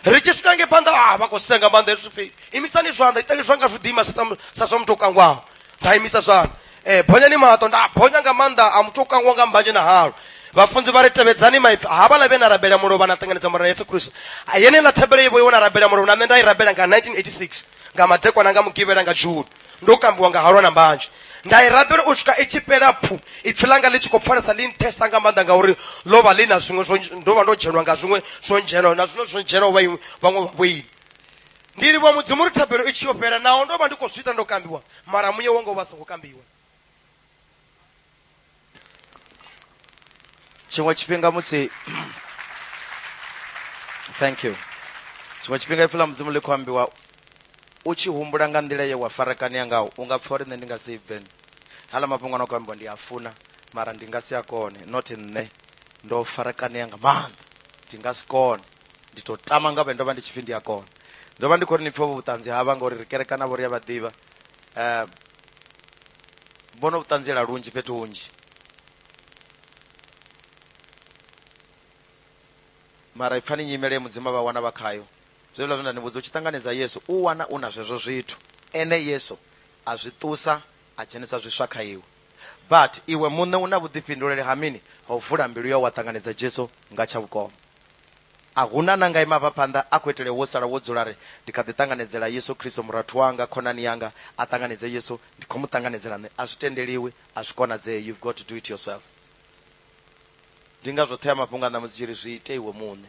ri tshi swika nge phanḓa a ah, vha khou senga maanḓa hezwi pfi imisani zwanḓa itani zwanga zwi ḓima sa tam- sa zwa muthu o kangwaho nda imisa zwanḓa um bonyani maṱo nda bonya nga maanḓa a muthu o kangwa nga mbanzhe na halo vhafunzi vha ri tevhedzani maipfi havhala vhe na rabela mulovha na ṱanganedza murena yesu kristu A, yeneiḽa thabelo yevho yo na rabela mulovha na nṋe nda i rabela nga 1986 nga madekwana nga mugivhela nga julu ndo kambiwa nga halwa na mbanzhe nda i rabela u swika i tshi fhela pfu ipfi langa ḽi tshi khou pfalesa ḽi nṱhesa nga maanḓa ngauri ḽo vha ḽi na zwiṅwe zwo ndo vha ndo dzhenwa nga zwiṅwe zwo ndzhenaho na zwiṅwe zwo ndzhenaho vha iṅwe- vhaṅwe vhavhoili ndilivwa mudzimu ri thabelo i tshi yo fhela naho ndo vha ndi khou zwi ita ndo kambiwa mara muye wanga u vha songo kambiwa tshiṅwe tshifhinga musi thank you tshiṅwe tshifhinga ipfi ḽa mudzimu ḽi khou ambiwa u tshi humbula nga nḓila ye wa farakania ngaho u nga pfa uri nṋe ndi nga si bve hala mafhungo ano khou ambiwa ndi a funa mara ndi nga si a kone not nṋe ndo farakania nga maanḓa ndi nga si kone ndi to tama nga vhe ndo vha ndi tshipfi ndi a kona ndo vha ndi khou ri ni pfhe vho vhuṱanzi havha ngauri ri kerekana vho ri a vha ḓivha um vho no vhuṱanziela lunzhi fhethu hunzhi mara i pfani nyimele ye mudzima vha wana vha khayo zwezwiḽa zwe nda ni vhudza u tshi ṱanganedza yesu u wana u na zwezwo zwithu ene yesu a zwi ṱusa a dzhenisa zwiswa kha iwe but iwe muṋe u na vhuḓifhinduleli ha mini ha u vula mbilu yau wa ṱanganedza jesu nga tsha vhukoma A hu na na nga e mavhaphanḓa a khou itele wo sala wo dzula a ri, Ndi kha ḓi ṱanganedzela Yesu Kristo, murathu wanga, khonani yanga. A ṱanganedze Yesu, ndi khou mu ṱanganedzela nṋe. A zwi tendeliwi, a zwi konadzei, you've got to do it yourself. Ndi ngazwo ṱhoyamafhungo a ṋamusi tshi ri, Zwi ite iwe muṋe.